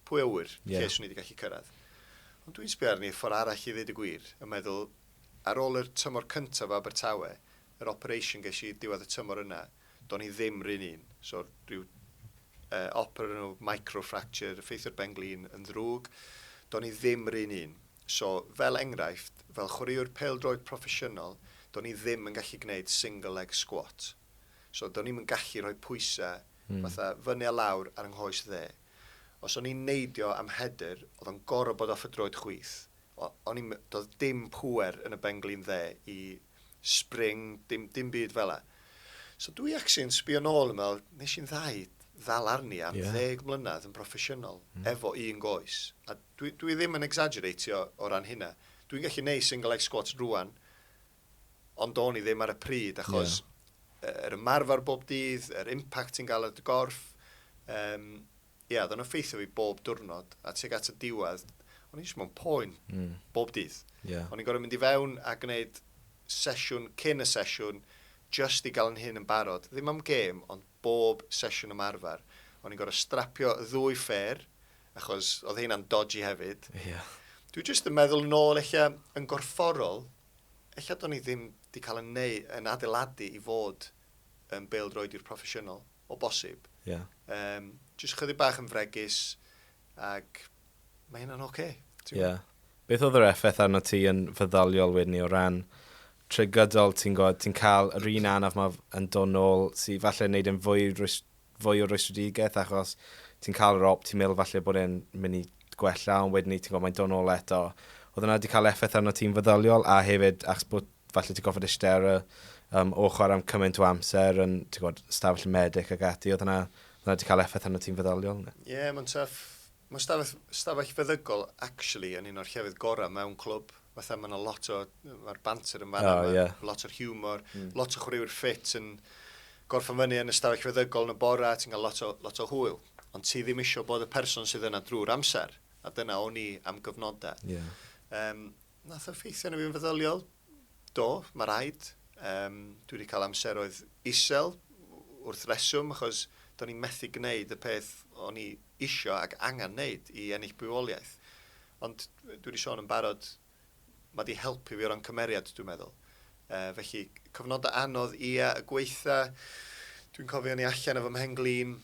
pwy awyr, yeah. lle swn i wedi gallu cyrraedd. Ond dwi'n sbio arni ffordd arall i ddweud y gwir, yn meddwl, Ar ôl yr tymor cyntaf o Abertawe, yr operation ges i diwedd y tymor yna, do'n i ddim 'run un. So, ryw yy op o'r enw microfracture, effeithio'r ben-glin yn ddrwg. Do'n i ddim 'run un. So, fel enghraifft, fel chwaraewr pêl-droed proffesiynol, do'n i ddim yn gallu gwneud single leg squat. So, do'n i'm yn gallu rhoi pwysau fatha fyny a lawr ar 'y nghoes dde. Os o'n i'n neidio am header, o'dd o'n gor'o' bod off y droed chwith. O- o'n i'n me- doedd dim pŵer yn y benglin dde i spring, dim, dim byd fel la. So dwi actually yn sbio nôl yn meddwl, nes i'n ddau ddal arni am yeah. ddeg mlynedd yn broffesiynol mm. efo un goes. A dwi, dwi ddim yn exaggeratio o ran hynna. Dwi'n gallu neud single leg squats rwan, ond do'n i ddim ar y pryd, achos yeah. yr ymarfer bob dydd, yr impact sy'n gael ar dy gorff, um, Ia, oedd o'n effeithio fi bob diwrnod, a tuag at y diwedd, o'n i jyst mewn poen, mm. bob dydd. Yeah. O'n i'n gorfod mynd i fewn a gwneud sesiwn cyn y sesiwn, just i gael yn hyn yn barod, ddim am gêm, ond bob sesiwn ymarfer. O'n i'n gorfod strapio y ddwy ffer, achos oedd hynna'n dodgy hefyd. Yeah. Dwi jyst yn meddwl yn ôl, eich yn gorfforol, eich do'n i ddim wedi cael yn, neu, yn adeiladu i fod yn bêl-droediwr proffesiynol, o bosib. Yeah. Um, just chydig bach yn fregus, ac mae hynna'n oce. Okay, yeah. Beth oedd yr effaith arno ti yn feddyliol wedyn ni o ran trigydol, ti'n gwybod, ti'n cael yr un anaf mae yn dod nôl sy'n falle wneud yn fwy, fwy o rwystredigaeth achos ti'n cael yr op, ti'n meddwl falle bod e'n mynd i gwella, ond wedyn ni ti'n gwybod mae'n dod nôl eto. Oedd yna wedi cael effaith arno ti'n feddyliol a hefyd achos bod falle ti'n gofod eistedd ar y um, ochr am cymaint o amser yn ti'n gwybod, stafell y medic ac ati, oedd yna, yna wedi cael effaith arno ti'n feddyliol? Ie, yeah, mae'n tuff. Mae stafell, stafell feddygol, actually, yn un o'r llefydd gorau mewn clwb. Fatha mae yna lot o, mae'r banter yn fanna, oh, mae yeah. lot o'r humor, mm. lot o chwaraewyr ffit yn gorffen fyny yn y stafell feddygol yn y bora, ti'n cael lot o, lot o hwyl. Ond ti ddim eisiau bod y person sydd yna drwy'r amser, a dyna o'n i am gyfnodau. Yeah. Um, Nath o effeithio arno fi yn feddyliol? Do, mae rhaid. Um, dwi wedi cael amseroedd isel wrth reswm achos do'n i'n methu gwneud y peth o'n i isio ac angen wneud i ennill bywoliaeth. Ond dwi wedi sôn yn barod, mae wedi helpu fi o ran cymeriad, dwi'n meddwl. Uh, felly, cyfnodau anodd, ia, y gweitha, dwi'n cofio ni allan efo mhen glin,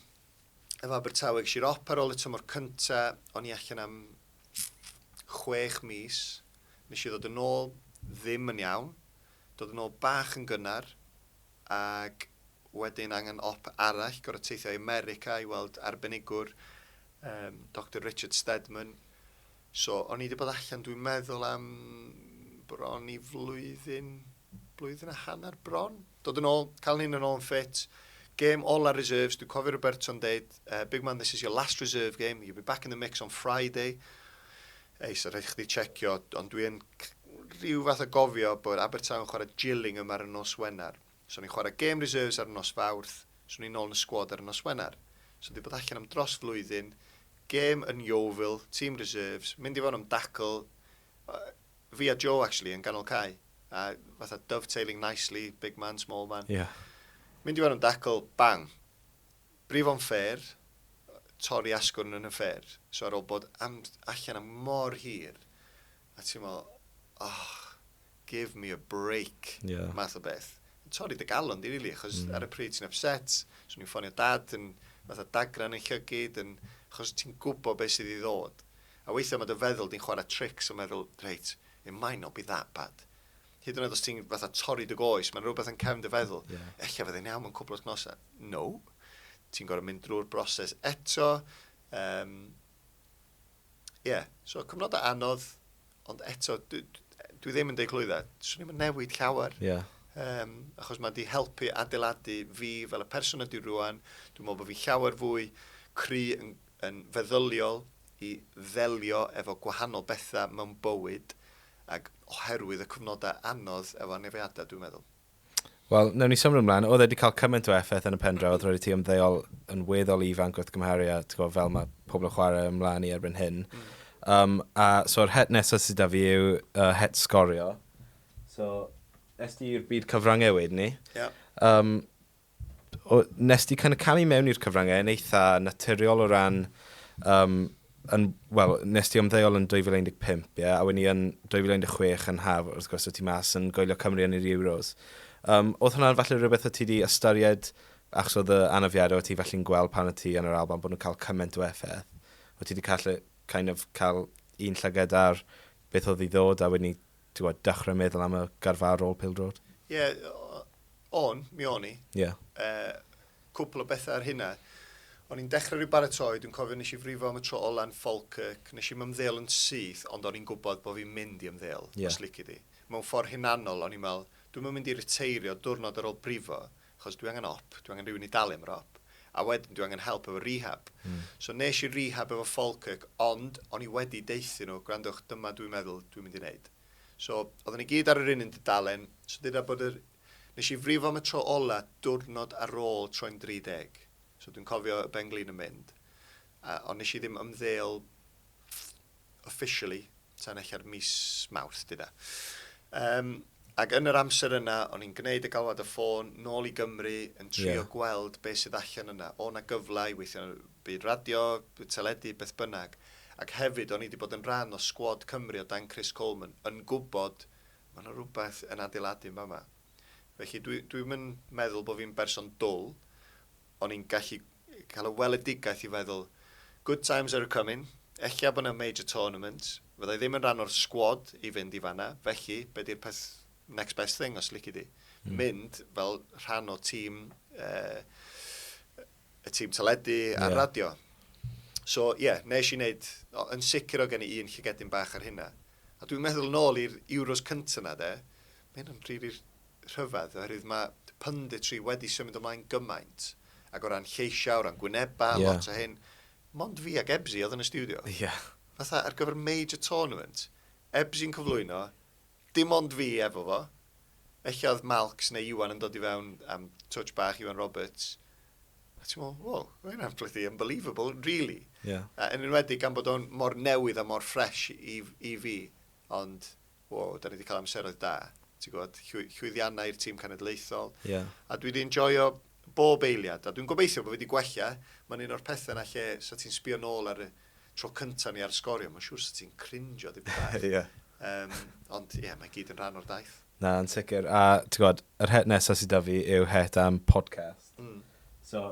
efo Abertawe, ges i'r op ar ôl y tymor cynta, o'n i allan am chwech mis, nes i ddod yn ôl ddim yn iawn, dod yn ôl bach yn gynnar, ac wedyn angen op arall, gorau teithio i America i weld arbenigwr, um, Dr Richard Stedman, So, o'n i 'di bod allan, dwi'n meddwl am bron i flwyddyn, blwyddyn a hanner bron. Dod yn ôl, cael hyn yn ôl yn ffit. Game all our reserves, dwi'n cofio Roberto'n deud, uh, big man, this is your last reserve game, you'll be back in the mix on Friday. Ei, so rhaid chdi checio, ond dwi'n rhyw fath o gofio bod Abertawe yn chwarae Gillingham ar y nos Wener. So ni'n chwarae gêm reserves ar nos Fawrth, so ni nôl yn y sgwad ar y nos Wener. So di bod allan am dros flwyddyn, gêm yn Yeovil, tîm reserves, mynd i fewn am dacl, fi a Joe actually yn ganol cae, a fatha dovetailing nicely, big man, small man. Yeah. Mynd i fewn am dacl, bang. Brif o'n fair, torri asgwrn yn y fair. So ar ôl bod am, allan am mor hir, A ti'n meddwl, oh, give me a break, yeah. math o beth. Yn torri dy galon di, really, achos mm. ar y pryd ti'n upset, swn i'n ffonio dad yn fath o dagran yn llygyd, yn, achos ti'n gwybod beth sydd i ddod. A weithiau mae dy feddwl di'n chwarae tricks o meddwl, reit, it might not be that bad. Hyd yn oed os ti'n fatha torri dy goes, mae'n rhywbeth yn cefn dy feddwl. Yeah. Ella fydde'n iawn mewn cwbl wythnosau. No. Ti'n gorau mynd drwy'r broses eto. Um, Ie, yeah. so cyfnodau anodd, ond eto, dwi, dwi ddim yn deud clwyddau, swn i'n newid llawer. Ie. Yeah. Um, achos mae wedi helpu adeiladu fi fel y person ydy rwan. Dwi'n meddwl bod fi llawer fwy cry yn, yn feddyliol i ddelio efo gwahanol bethau mewn bywyd ac oherwydd y cyfnodau anodd efo anefiadau, dwi'n meddwl. Wel, newn ni symud ymlaen. Oedd e 'di cael cymaint o effaith yn y pendraw, oedd roedd ti ymddeol yn weddol ifanc wrth gymharu a gwybod, fel mae pobl yn chwarae ymlaen i erbyn hyn. Mm. Um, a so'r het nesaf sydd da fi yw uh, het sgorio. So, es ti i'r byd cyfrangau wedyn ni. Yeah. Um, O, nes di kind of camu mewn i'r cyfryngau yn eitha naturiol o ran, um, yn, wel, nes ti ymddeol yn 2015, ie, yeah? a wedi yn 2016 yn haf, wrth gwrs, o ti mas yn goelio Cymru yn yr Euros. Um, oedd hwnna'n falle rhywbeth o ti wedi ystyried, achos oedd y anafiadau o ti falle'n gweld pan o ti yn yr Alban bod nhw'n cael cymaint o effaith, o ti wedi cael, kind of, cael un llyged ar beth oedd i ddod a wedyn Ti gwbod, dechrau meddwl am y garfa ar ôl pêl-droed. Ie, o'n, mi o'n i. Ie. Uh, cwpl o bethau ar hynna. O'n i'n dechrau rhyw baratoi, dwi'n cofio nes i frifo am y tro ola yn Falkirk, nes i'n ymddeol yn syth, ond o'n i'n gwybod bod fi'n mynd i ymddeol, yeah. os lici di. Mewn ffordd hunanol, o'n i'n meddwl, dwi'n mynd i reteirio diwrnod ar ôl brifo, Achos dwi angen op, dwi angen rhywun i dalu am yr op. A wedyn dwi angen help efo rehab. So nes i rehab efo Falkirk, ond o'n i wedi deuthyn nhw, gwrandwch, dyma dwi'n meddwl dwi'n mynd i wneud. So oedden ni gyd ar yr un un dudalen, so dyda bod yr... Nes i frifo am y tro ola diwrnod ar ôl troi'n 30. So dwi'n cofio y ben-glin yn mynd. Ond nes i ddim ymddeol officially Tan ella'r mis Mawrth, dyna. Yym, ac yn yr amser yna, o'n i'n gwneud y galwad y ffôn, nôl i Gymru, yn trio yeah. gweld beth sydd allan yna. O na gyfle i weithio yn y byd radio, byd teledu, beth bynnag. Ac hefyd, o'n i wedi bod yn rhan o sgwad Cymru o dan Chris Coleman, yn gwybod, mae yna rhywbeth yn adeiladu yn fama. Felly, dwi, dwi'n meddwl bod fi'n berson dwl, O'n i'n gallu cael y weledigaeth i feddwl, good times are a-coming, ella bod 'na major tournament, fydda i ddim yn rhan o'r sgwad i fynd i fan'na, felly be 'di'r peth next best thing os lici di? Mynd fel rhan o tîm, uh, y tîm teledu a'r yeah. radio. So, ie, yeah, nes i wneud, o, yn sicr o gen i un llygedyn bach ar hynna. A dwi'n meddwl nôl i'r Euros cyntaf na, de, mae hyn yn rili rhyfedd oherwydd mae punditry wedi symud ymlaen gymaint ac o ran lleisiau, o ran gwynebau, yeah. lot o hyn. Mond fi ac Ebsi oedd yn y studio. Yeah. Fatha ar gyfer major tournament, Ebsi'n cyflwyno, dim ond fi efo fo. Felly oedd Malcs neu Iwan yn dod i fewn am touch bach Iwan Roberts. A ti'n meddwl, wow, mae hynna'n flythu unbelievable, really. Yeah. A yn enwedig gan bod o'n mor newydd a mor ffres i, i fi. Ond wow, da ni wedi cael amseroedd da. Ti'n gwybod, llwyddiannau i'r tîm cenedlaethol. Yeah. A dwi wedi enjoyo bob eiliad. A dwi'n gobeithio bod wedi gwella. Mae'n un o'r pethau na lle sa ti'n sbio nôl ar y tro cyntaf ni ar sgorio. Mae'n siŵr sa ti'n crinjo ddim bach. yeah. um, ond ie, yeah, mae gyd yn rhan o'r daith. Na, yn sicr. A ti'n gwybod, yr het nesaf sydd da fi yw het am podcast. Mm. So,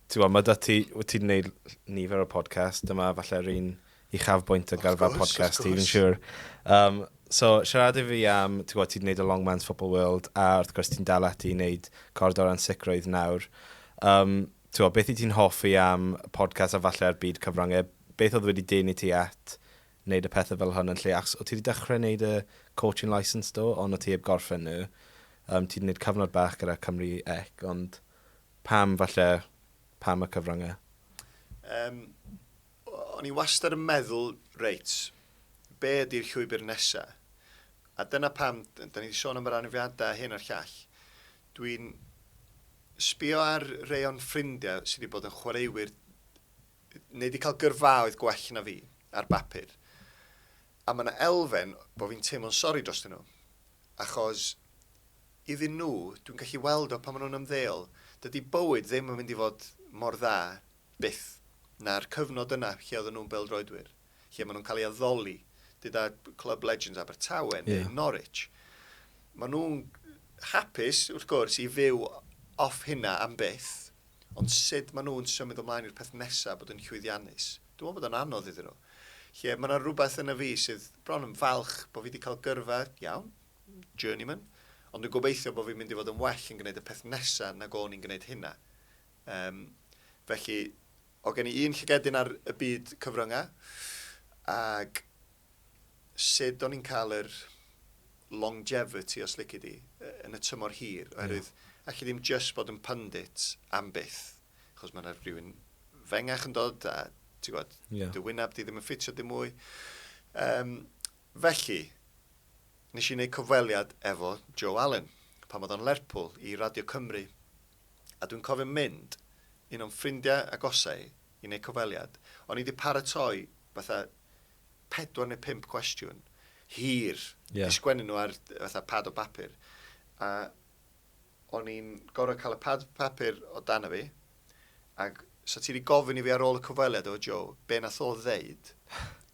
ti'n gwybod, mae da ti, wyt ti'n gwneud nifer o podcast, dyma falle yr un uchafbwynt o garfa podcast ti, fi'n siŵr. Um, so, siarad i fi am, ti'n gwybod, ti'n gwneud y Longman's Football World, a wrth gwrs ti'n dal ati i wneud cord o'r ansicrwydd nawr. Um, ti'n gwybod, beth i ti'n hoffi am podcast a falle ar byd cyfryngau? Beth oedd wedi dyn i ti at wneud y pethau fel hwn yn lle? Achos o ti wedi dechrau wneud y coaching license do, ond o ti heb gorffen nhw. Um, ti'n gwneud cyfnod bach gyda Cymru Ec, ond Pam, falle, pam y cyfryngau? Yym, o'n i wastad yn meddwl, reit, be ydy'r llwybr nesa? A dyna pam, da ni wedi sôn am yr anafiadau a hyn a'r llall. Dwi'n sbio ar rei o'n ffrindiau sydd wedi bod yn chwaraewyr neu wedi cael gyrfaoedd gwell na fi ar bapur. A mae yna elfen bod fi'n teimlo'n sori drostyn nhw. Achos iddyn nhw, dwi'n gallu weld o pan maen nhw'n ymddeol, dydy bywyd ddim yn mynd i fod mor dda, byth, na'r cyfnod yna lle oedden nhw'n bêl-droedwyr, lle maen nhw'n cael eu addoli, gyda clwb legends Abertawe neu yeah. Norwich. Maen nhw'n hapus, wrth gwrs, i fyw off hynna am byth, ond sut maen nhw'n symud ymlaen i'r peth nesaf bod yn llwyddiannus. Dwi'n meddwl bod o'n anodd iddyn nhw. Lle mae yna rhywbeth yn y fi sydd bron yn falch bod fi wedi cael gyrfa iawn, journeyman, ond dwi'n gobeithio bod fi'n mynd i fod yn well yn gwneud y peth nesa nag o'n i'n gwneud hynna. Um, felly, o gen i un llygedyn ar y byd cyfrynga, ac sut o'n i'n cael yr longevity, os lici di, yn y tymor hir, oherwydd yeah. allu ddim just bod yn pundit am byth, achos mae'n rhywun fengach yn dod, a ti'n gwybod, yeah. dy wyneb di ddim yn ffitio dim mwy. Um, Felly, nes i wneud cyfweliad efo Joe Allen, pan oedd o'n Lerpwl, i Radio Cymru, a dwi'n cofio mynd, un o'n ffrindiau agosau, i wneud cyfweliad. O'n i 'di paratoi fatha pedwar neu pump cwestiwn hir, yeah. 'di sgwennu nhw ar fatha pad o bapur, a o'n i'n gorfod cael y pad papur o dan fi, Ac 'sa ti 'di gofyn i fi ar ôl y cyfweliad efo Joe, be nath o ddeud?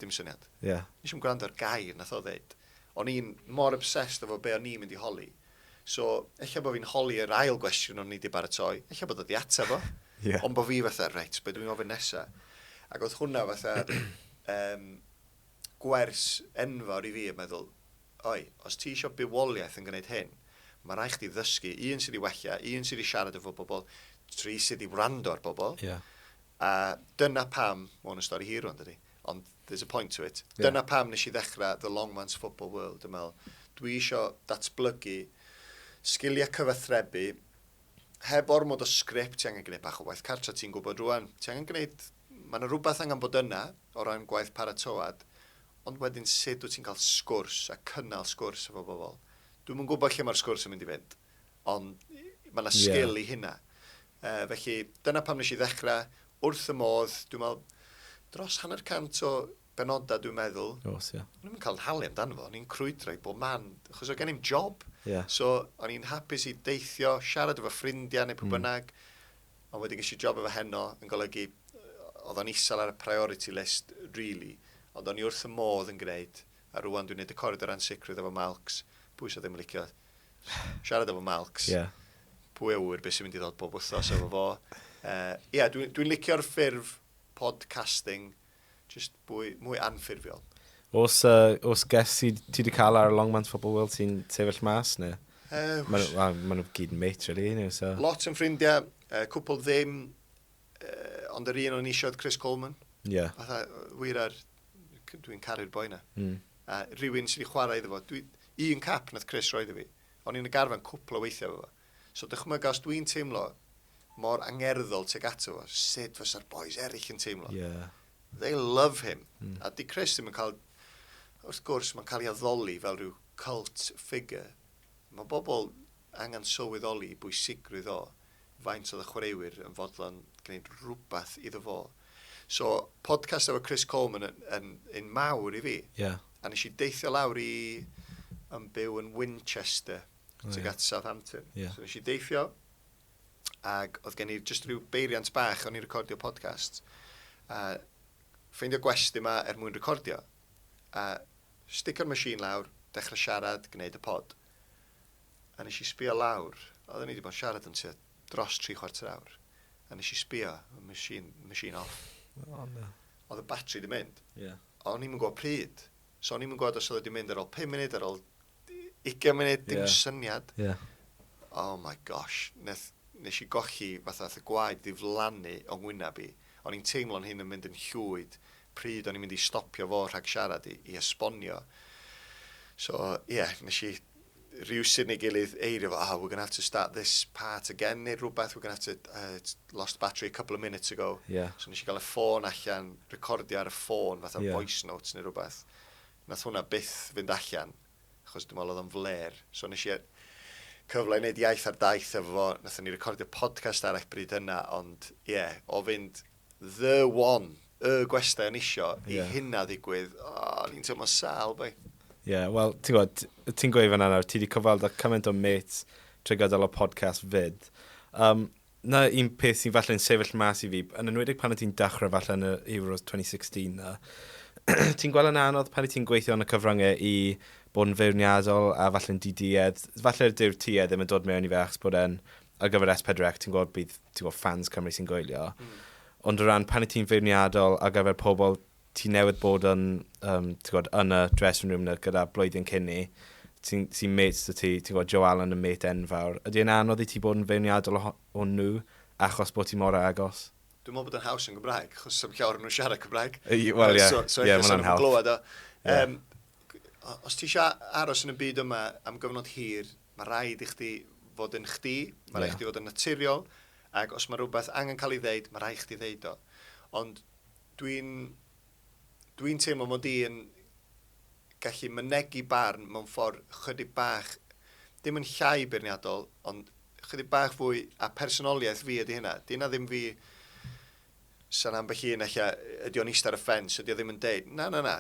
Dim syniad. Ie. Nes i'm gwrando ar gair nath o ddeud. O'n i'n mor obsessed efo be o'n i'n mynd i holi. So, ella bo' fi'n holi yr ail gwestiwn o'n i 'di baratoi, ella bod o 'di ateb o. Ie. Ond bo' fi fatha, reit, be dwi'n ofyn nesa? Ac o'dd hwnna fatha, yym, gwers enfawr i fi yn meddwl, oi, os ti isio bywoliaeth yn gwneud hyn, mae rhaid chdi ddysgu, un sydd i wella, un sydd i siarad efo bobl, tri sydd i wrando ar bobl. Yeah. A dyna pam, mae hwn yn stori hir rwan, dydy, ond there's a point to it. Yeah. Dyna pam nes i ddechrau The Long Man's Football World, yn meddwl, dwi eisiau datblygu sgiliau cyfathrebu, heb ormod o sgript, ti angen gwneud bach o waith cartra, ti'n gwybod rwan, ti angen gwneud Mae yna rywbeth angen bod yna o ran gwaith paratoad, ond wedyn sut wyt ti'n cael sgwrs a cynnal sgwrs efo bobl? Dwi'm yn gwybod lle mae'r sgwrs yn mynd i fynd, ond mae yna sgil i hynna. Yy, felly, dyna pam nes i ddechrau, wrth fy modd, dwi'n meddwl, dros hanner cant o benodau dwi'n meddwl. Os, ie. O'n i'm yn cael yn halu amdano fo, o'n i'n crwydro i bob man, achos o gen i'm job. Yeah. So, o'n i'n hapus i deithio, siarad efo ffrindiau neu pwy bynnag. Mm. Ond wedyn ges i job efo Heno yn golygu oedd o'n isel ar y priority list rili ond o'n i wrth fy modd yn gneud a rŵan dwi'n neud y coridor ansicrwydd efo Malcs, pwy sydd ddim yn licio siarad efo Malcs? Ie. Pwy a ŵyr be sy'n mynd i ddod bob wythnos efo fo. Yy ie dwi'n dwi'n licio'r ffurf podcasting Jyst mwy, mwy anffurfiol. Os, uh, os ges ti, ti di cael ar y Longmans pobl weld ti'n sefyll mas, neu? Uh, Mae nhw, well, ma nhw gyd yn mate, really, nhw, so... Lot yn ffrindiau, uh, cwpl ddim, uh, ond yr un o'n eisiau oedd Chris Coleman. Ie. Yeah. Fatha, wir ar... Dwi'n caru'r boi na. Mm. A rhywun sydd wedi chwarae iddo fo. Dwi, un cap nath Chris roed i fi. O'n i'n y garfan cwpl o weithiau efo fo. So dychmyga os dwi'n teimlo mor angerddol tuag ato fo, sut fysa'r bois eraill yn teimlo? Yeah. They love him. Mm. A di Chris ddim yn cael... Wrth gwrs, mae'n cael ei addoli fel rhyw cult figure. Mae bobl angen sylweddoli i bwysigrwydd o faint oedd y chwaraewyr yn fodlon gwneud rhywbeth iddo fo. So, podcast efo Chris Coleman yn, yn, yn mawr i fi. Yeah. A nes i deithio lawr i yn byw yn Winchester. oh, tuag at Southampton. Yeah. So nes i deithio, ac oedd gen i just rhyw beiriant bach o'n i recordio podcast. A ffeindio gwest yma er mwyn recordio. A sticio'r machine lawr, dechrau siarad, gwneud y pod. A nes i sbio lawr, oedd ni wedi bod yn siarad yn tua dros tri chwarter awr. A nes i sbio, y machine, machine off. Oh, no. Oedd y batri wedi mynd. Yeah. O'n i'n gwybod pryd. So o'n i'n gwybod os oedd wedi mynd ar ôl 5 munud, ar ôl 20 munud, dim syniad. Oh my gosh, nes i golli fatha nath y gwaed ddiflannu o ngwyneb i. O'n i'n teimlo'n hun yn mynd yn llwyd pryd o'n i'n mynd i stopio fo rhag siarad i esbonio. So ie, nes i rywsut neu gilydd eirio fo, oh we're going to have to start this part again neu rhywbeth, we're going to have to, lost battery a couple of minutes ago. So nes i gael y ffôn allan, recordio ar y ffôn fatha voice notes neu rhywbeth. Nath hwnna byth fynd allan, achos dwi'n meddwl oedd o'n flêr. So nes i e- cyfle i wneud iaith ar daith efo fo, nathon ni recordio podcast arall bryd hynna, ond ie, o fynd the one, y gwestai o'n isio, i yeah. hynna ddigwydd, o, o'n i'n teimlo'n sal, boi. Ie, yeah, wel, ti'n gwybod, ti'n gweud fan nawr, ti wedi cyfweld â cymaint o mates trwy gydol y podcast fyd. Um, 'na un peth sy'n falle'n sefyll mas i fi, yn enwedig pan o ti'n dechrau falle yn y Euros 2016 'na, ti'n gweld yn anodd pan o ti'n gweithio yn y cyfryngau i bod yn feirniadol a falle'n di-duedd. Falle dyw'r tuedd ddim yn dod mewn i fe achos bod e'n ar gyfer S4C, ti'n gweld bydd ti'n gweld fans Cymru sy'n goelio. Mm. Ond o ran pan o ti'n feirniadol ar gyfer pobl ti newydd bod yn, um, ti'n gwybod, yn y dressing room na gyda blwyddyn cyn ni, sy'n sy mates dy ti, ti'n gwybod, Joe Allen yn mate enfawr. Ydy e'n anodd i ti bod yn feirniadol o, o nhw achos bod ti mor agos? Dwi'n meddwl bod yn haws yn Gymraeg, achos sy'n llawer nhw'n siarad Cymraeg. Wel, ie, so, so yeah, mae'n anhawdd. Glywed o. Yeah. Um, os ti eisiau aros yn y byd yma am gyfnod hir, mae rhaid i chdi fod yn chdi, mae rhaid i chdi fod yn naturiol, ac os mae rhywbeth angen cael ei ddeud, mae rhaid i chdi ddeud o. Ond Dwi'n... dwi'n teimlo mod i yn gallu mynegi barn mewn ffordd chydig bach, ddim yn llai beirniadol, ond chydig bach fwy, a personoliaeth fi ydy hynna. Di hynna ddim fi... Sa'n ambell un ella, ydy o'n eistedd ar y ffens, ydy o ddim yn deud, na, na, na,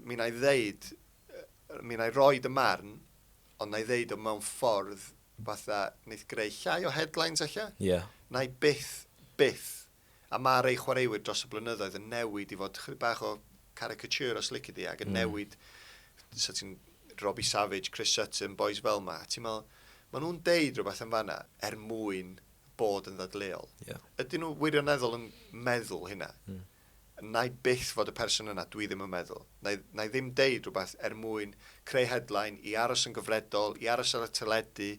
mi na i ddeud, mi na i roi dy marn, ond na i ddeud o mewn ffordd fatha, neith greu llai o headlines ella? Ie. Yeah. Na i byth, byth a ma'r ei chwaraewyr dros y blynyddoedd yn newid i fod chydig bach o caricature os lici di, ac yn mm. newid, so ti'n Robbie Savage, Chris Sutton, boys fel ma, ti'n meddwl, maen nhw'n deud rhywbeth yn fanna er mwyn bod yn ddadleol. Yeah. Ydyn nhw wirioneddol yn meddwl hynna? Mm. Na i byth fod y person yna, dwi ddim yn meddwl. Na i, na i ddim deud rhywbeth er mwyn creu headline i aros yn gyfredol, i aros ar y teledu.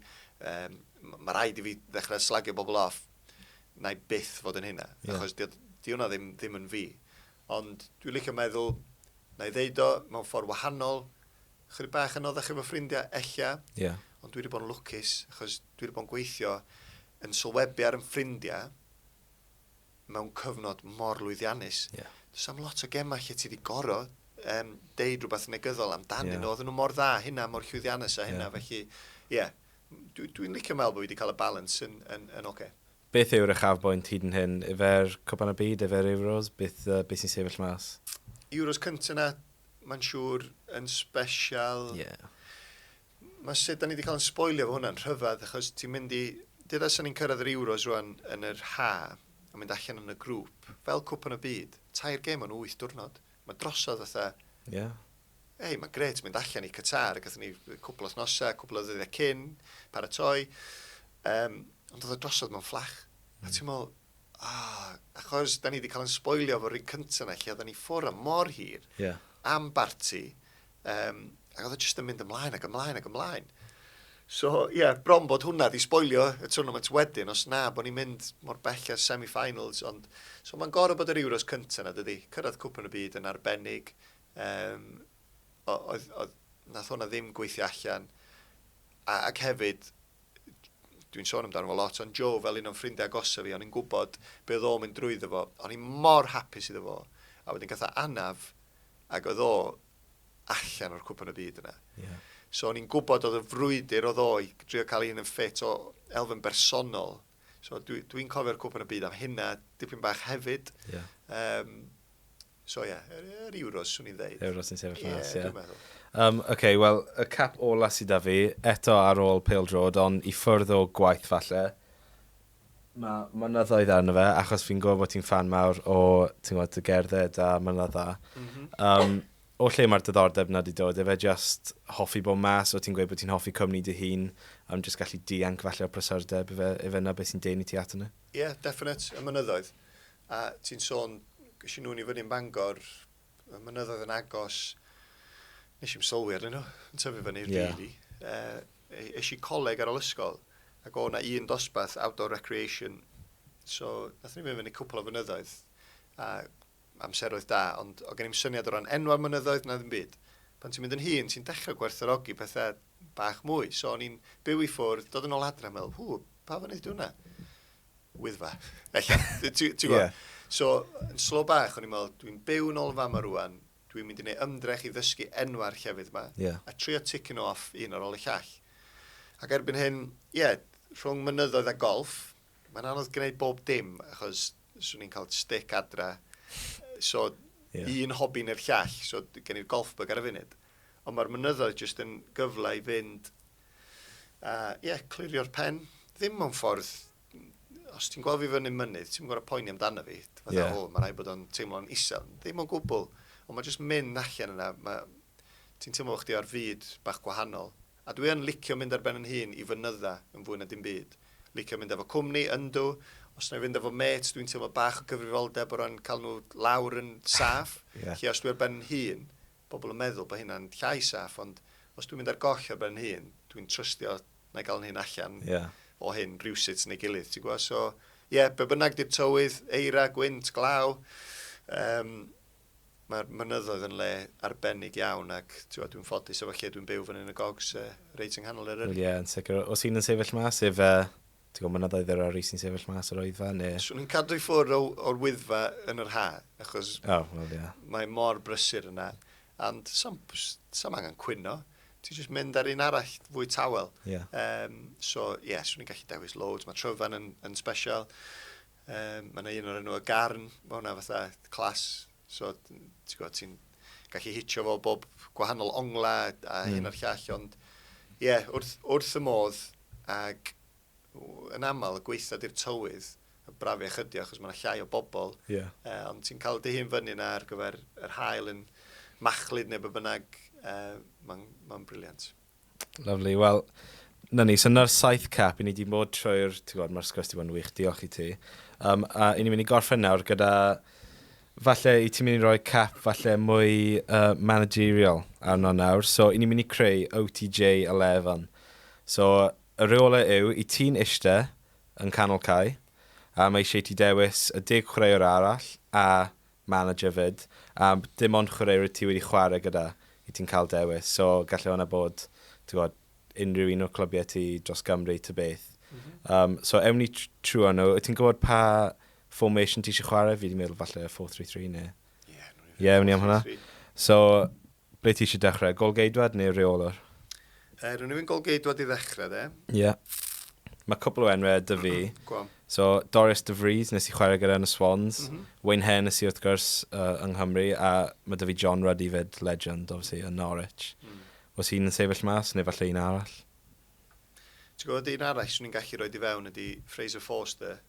Um, Mae rhaid i fi ddechrau slagio bobl off. na i byth fod yn hynna. Yeah. Achos di, di hwnna ddim, ddim yn fi. Ond dwi'n licio meddwl, na i ddeud o mewn ffordd wahanol, chydig bach yn oddech efo ffrindiau, ella. Yeah. Ond dwi wedi bod yn lwcus, achos dwi wedi bod yn gweithio yn sylwebu ar yn ffrindiau mewn cyfnod mor lwyddiannus. Yeah. Does am lot o gemau lle ti wedi goro um, deud rhywbeth negyddol amdanyn yeah. nhw. Oedden nhw mor dda hynna, mor llwyddiannus a hynna. Yeah. Felly, ie, yeah, Dw i'n licio meddwl bod fi wedi cael y balans yn, yn, yn ocê. Beth yw'r uchafbwynt hyd yn hyn? Yfe'r Cwpan y Byd? Yfe'r Euros? Beth, yy, beth sy'n sefyll mas? Euros cynta 'na, mae'n siŵr, yn sbesial. Ie. Mae sut 'da ni 'di cael yn sboilio efo hwnna'n rhyfedd, achos ti'n mynd i... Deuda 'sa ni'n cyrraedd yr Euros rwan yn yr ha', yn mynd allan yn y grŵp, fel Cwpan y Byd, tair gêm yn wyth diwrnod. Mae drosodd fatha... Ie. Hei, mae'n gret mynd allan i Qatar, gathon ni cwpl o thnosau, cwpl o ddyddiau cyn, paratoi. Um, ond oedd y drosodd mewn fflach. Mm. A hmm. ti'n meddwl, ah, achos da ni wedi cael yn sboilio fo'r un cyntaf yna, lle oedden ni ffwr am mor hir, yeah. am barti, Um, ac oedd o jyst yn mynd ymlaen ac ymlaen ac ymlaen. So, ie, yeah, bron bod hwnna di sboilio y tournament wedyn, os na, bod ni'n mynd mor bell ar semi-finals, ond... So, mae'n gorau bod yr Euros cyntaf na, dydy. Cyrraedd cwpan y byd yn arbennig. Um, oedd, oedd, nath hwnna ddim gweithio allan. A, ac hefyd, dwi'n sôn amdano fo lot, ond Joe fel un o'n ffrindiau agosaf fi, o'n i'n gwybod beth o'n mynd drwyddo fo. O'n i'n mor hapus iddo fo. A wedyn gatha anaf, ac oedd o allan o'r cwpan y byd yna. Yeah. So o'n i'n gwybod oedd y frwydr oedd o i drio cael un yn ffit o elfen bersonol. So dwi'n dwi, cofio'r cwpan y byd am hynna, dipyn bach hefyd. Yeah. Um, so ie, yeah, yr, yr Euros, swn i'n ddeud. Euros yn sefyll yeah, mas, ie. Yeah. Um, Oce, okay, wel, y cap ola sydd da fi, eto ar ôl Pale Drod, ond i ffwrdd o gwaith falle. Mae mynyddoedd arno fe, achos fi'n gwybod bod ti'n ffan mawr o, ti'n gwybod, dy gerdded a mynydda. Mm -hmm. um, o lle mae'r diddordeb na di dod? Efe just hoffi bod mas, o ti'n gweud bod ti'n hoffi cwmni dy hun, am just gallu dianc falle o prysurdeb, efe, efe na beth sy'n dein i ti at yna? Ie, yeah, definite, y mynyddoedd. A ti'n sôn, gysi nhw'n i fyny yn Bangor, y mynyddoedd yn agos, nes i'n sylwi arnyn nhw, yn tyfu fan i'r yeah. dili. Uh, eis i coleg ar ôl ysgol, ac o na un dosbath outdoor recreation. So, nath ni fynd fyny cwpl o fynyddoedd, a amseroedd da, ond o gen i'n syniad o ran enwau mynyddoedd na ddim byd. Pan ti'n mynd yn hun, ti'n dechrau gwerthorogi pethau bach mwy. So, o'n i'n byw i ffwrdd, dod yn ôl adre, meddwl, hw, pa fynydd di hwnna? Wyddfa, ella. Ti'n gwybod? Yeah. So, yn slo bach, o'n i'n meddwl, dwi'n byw yn ôl yn fama rwan, dwi'n mynd i wneud ymdrech i ddysgu enwa'r llefydd yma, yeah. a trio ticyn off un ar ôl y llall. Ac erbyn hyn, ie, yeah, rhwng mynyddoedd a golf, mae'n anodd gwneud bob dim, achos swn i'n cael stick adra. So, yeah. un hobi neu'r llall, so gen i'r golf bug ar y funud. Ond mae'r mynyddoedd jyst yn gyfle i fynd A ie, clirio'r pen. Ddim mewn ffordd... Os ti'n gweld fi fyny mynydd, ti'n gorau poeni amdano fi. Fatha, yeah. o, mae rhaid bod o'n teimlo'n isel. Ddim o'n gwbl. Ond mae jyst mynd allan yna, mae... ti'n teimlo bod chdi ar fyd bach gwahanol. A dwi yn licio mynd ar ben yn hun i fynydda yn fwy na dim byd. Licio mynd efo cwmni, yndw. Os na i fynd efo mêts, dwi'n teimlo bach o gyfrifoldeb o ran cael nhw lawr yn saff. yeah. Lle os dwi ar ben yn hun, Pobl yn meddwl bod hynna'n llai saff, ond os dwi'n mynd ar goll ar ben fy hun, dwi'n trystio na i gael fy hun allan o hyn rywsut neu gilydd, ti'n gwybod? So, ie, be bynnag 'di'r tywydd, eira, gwynt, glaw, um, mae'r mynyddoedd yn le arbennig iawn ac dwi'n ffodus efo lle dwi'n byw fan hyn y gogs uh, reit yng nghanol yr yrru. Ie, yn sicr. Os un yn sefyll mas, sef uh, Ti'n gwybod mynyddoedd yr RE sy'n sefyll mas yr oedfa neu? Swn i'n cadw i ffwrdd o'r Wyddfa yn yr ha, achos oh, well, yeah. mae mor brysur yna. Ond sam, sam angen cwyno, ti'n just mynd ar un arall fwy tawel. Yeah. Um, so, ie, yeah, swn i'n gallu dewis loads. Mae Tryfan yn, yn special. Um, mae yna un o'r enw o Garn, mae hwnna fatha clas. So, ti'n gwybod, ti'n gallu hitio fo bob gwahanol ongla a hyn a'r llall, ond ie, yeah, wrth, wrth y modd, ac yn aml y gweitha di'r tywydd, y brafiach ydi achos mae yna llai o bobl, yeah. uh, ond ti'n cael dy hun fyny yna ar gyfer yr hael yn machlud neu be bynnag, uh, mae'n ma briliant. Lyfli. Wel, 'na ni. So 'na'r saith cap. I ni wedi bod trwy'r... Ti'n gwybod, mae'r sgwrs wedi bod yn wych. Diolch i ti. Um, a i ni'n mynd i gorffen nawr gyda... Falle i ti'n mynd i roi cap falle mwy uh, managerial arno nawr. So i ni'n mynd i creu OTJ 11. So y rheolau yw, i ti'n ishte yn canol cae, a mae eisiau ti dewis y deg chwaraewr arall a manager 'fyd, a dim ond chwaraewr wyt ti wedi chwarae gyda i ti'n cael dewis, so gallai hwnna bod, ti'n gwybod, unrhyw un o'r clybiau ti dros Gymru ta beth. Um, so ewn ni trwy nhw. Wyt ti'n gwybod pa formation ti eisiau chwarae? Fi wedi meddwl falle 4-3-3 neu... Ie, yeah, yeah, ni am hwnna. So, Ble ti eisiau dechrau? Golgeidwad neu reolwr? Uh, rwy'n i'n golgeidwad i ddechrau, de. Ie. Yeah. Mae cwpl o enwau dy fi. Gwa. So, Doris de Vries, nes i chwarae gyda yn y Swans. Mm -hmm. Wayne Hennessy, wrth gwrs, uh, yng Nghymru. A mae dy fi John Ruddy fyd, legend, obviously, yn Norwich. Mm. Os hi'n yn sefyll mas, neu falle un arall? Ti'n gwybod, un arall swn i'n gallu rhoi di fewn ydy Fraser Forster.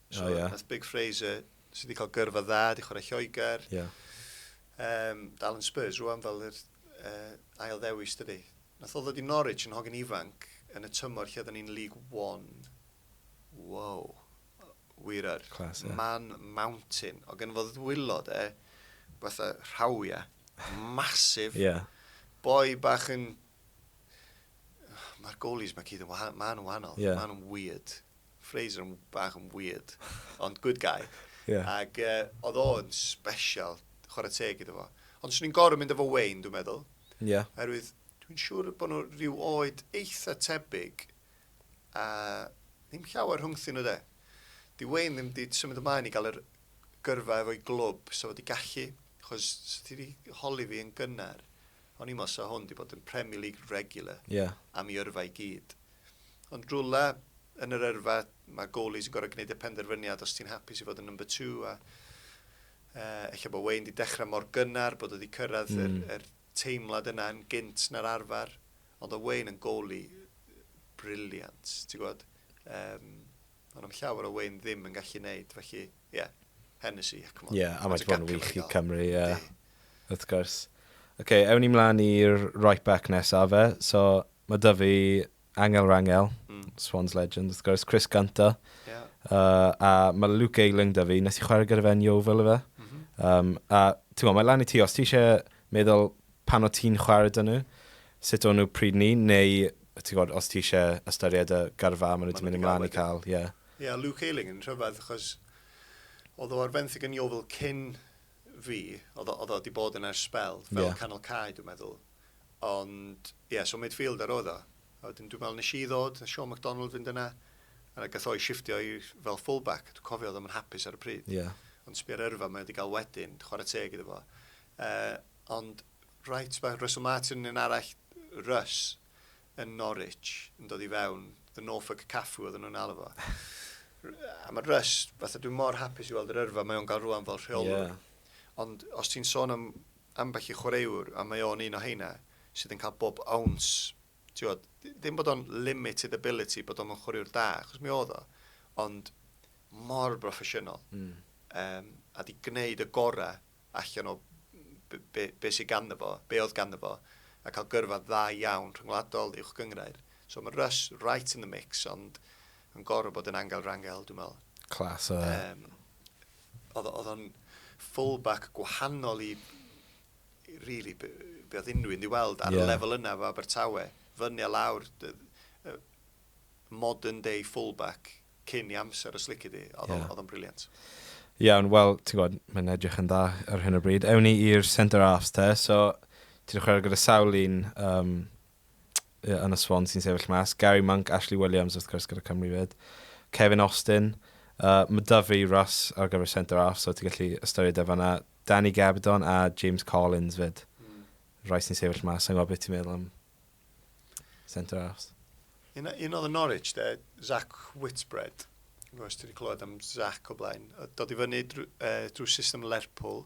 So, oh, yeah. Nath Big Fraser Nes i di cael gyrfa dda, di chwarae Lloegr. Ie. Yeah. Um, dal yn Spurs rwan fel yr uh, ail ddewis dydy. Nath o ddod i Norwich yn hogyn ifanc yn y tymor lle oedden ni'n League One. Wow. Wir ar. Class, yeah. Man Mountain. O gen fo ddwylod e, fatha rhawia, masif. Ie. Yeah. Boi bach yn Mae'r goalies mae cyd yn wahanol. Mae nhw'n wahanol. Yeah. Mae nhw'n weird. Fraser yn bach yn weird. Ond good guy. Yeah. Ac uh, oedd o'n special. Chwarae teg iddo fo. Ond swn i'n gorau mynd efo Wayne, dwi'n meddwl. Ie. Yeah. Herwydd, dwi'n siŵr bod nhw rhyw oed eitha tebyg. A ddim llawer rhwngthyn nhw de. Di Wayne ddim di symud ymlaen i gael yr gyrfa efo'i glwb, so fod i gallu. Chos, so ti wedi holi fi yn gynnar. O'n i'm os sa hwn 'di bod yn Premier League regular Ie. am 'i yrfa i gyd. Ond rywle yn yr yrfa, mae goalies yn gorfod gwneud y penderfyniad os ti'n hapus i fod yn number two a yy ella bod Wayne 'di dechrau mor gynnar bod o 'di cyrraedd yr Mm. yr teimlad yna yn gynt na'r arfer. Ond oedd Wayne yn goalie brilliant, ti'n gwybod? Yym, o'n na'm llawer o Wayne ddim yn gallu 'neud, felly... Ie, Hennessy, come on. Ie, a mae wedi bod yn wych i Cymru, ie. Wrth gwrs. Ok, ewn ni mlaen i'r right back nesa fe. So, mae dy fi Angel Rangel, Swans legend, wrth gwrs, Chris Gunter. Ie. Uh, a mae Luke Ayling dy fi, nes i chwarae gyda fe'n Yeovil efe. Mm -hmm. um, a, ti'n gwybod, mae lan i ti, os ti eisiau meddwl pan o ti'n chwarae dyn nhw, sut o'n nhw pryd ni, neu ti'n gwybod, os ti eisiau ystyried y gyrfa maen nhw wedi mynd ymlaen i cael, ie. Yeah. Ie, oedd Luke Ayling yn rhyfedd achos oedd o ar fenthyg yn Yeovil cyn fi. Oedd o wedi bod yna ers sbel, fel canol cae dwi'n meddwl. Ond ie, so midfielder oedd o. A wedyn dwi'n meddwl nes i ddod, nes Sean McDonald fynd yna, a gath o'i shifftio i fel full-back. Dwi'n cofio oedd o'm yn hapus ar y pryd. Ond sbio'r yrfa mae o wedi cael wedyn, chwarae teg iddo fo. Ond right back, Russell Martin yn un arall, Russ, yn Norwich yn dod i fewn, the Norfolk Caffu oedden nhw'n alw fo. A mae Russ, fatha dwi'n mor hapus i weld yr yrfa mae o'n gael rwan fel rheolwr. Yeah. Ond os ti'n sôn am ambell i chwaraewr, a mae o'n un o heina, sydd yn cael bob awns, tiwod, ddim bod o'n limited ability bod o'n chwaraewr da, achos mi oedd o, ond mor broffesiynol. Mm. Um, a di gwneud y gorau allan o be, be, be sydd ganddo fo, be oedd ganddo fo, a cael gyrfa dda iawn rhyngwladol, uwch gynghrair. So mae Russ right in the mix, ond yn gorfod bod yn angel rangel, dwi'n meddwl. Clas o... Um, oedd o'n fullback gwahanol i, really, be, be oedd unrhyw un i weld ar yeah. y lefel yna fo Abertawe. Fyny a lawr, modern day fullback cyn i amser y slici di, oedd o'n... Ie. ...oedd o'n brilliant. Iawn, wel, ti'n gwybod, mae'n edrych yn dda ar hyn o bryd. Ewn ni i'r Centre Arts te, so ti 'di chwarae gyda sawl un um, yn y sfon sy'n sefyll mas. Gary Monk, Ashley Williams wrth gwrs gyda Cymru fyd, Kevin Austin, uh, mae da fi Russ ar gyfer Centre Arts, so ti'n gallu ystyried e fanna. Danny Gabidon a James Collins fyd. Mm. Rai sy'n sefyll mas, sa'n gwybod beth ti'n meddwl am Centre Arse. Un, un oedd yn Norwich, de, Zach Whitbread. Dwi'n gwybod ti wedi clywed am Zach o blaen. Dod i fyny drwy, uh, drwy system Lerpwl.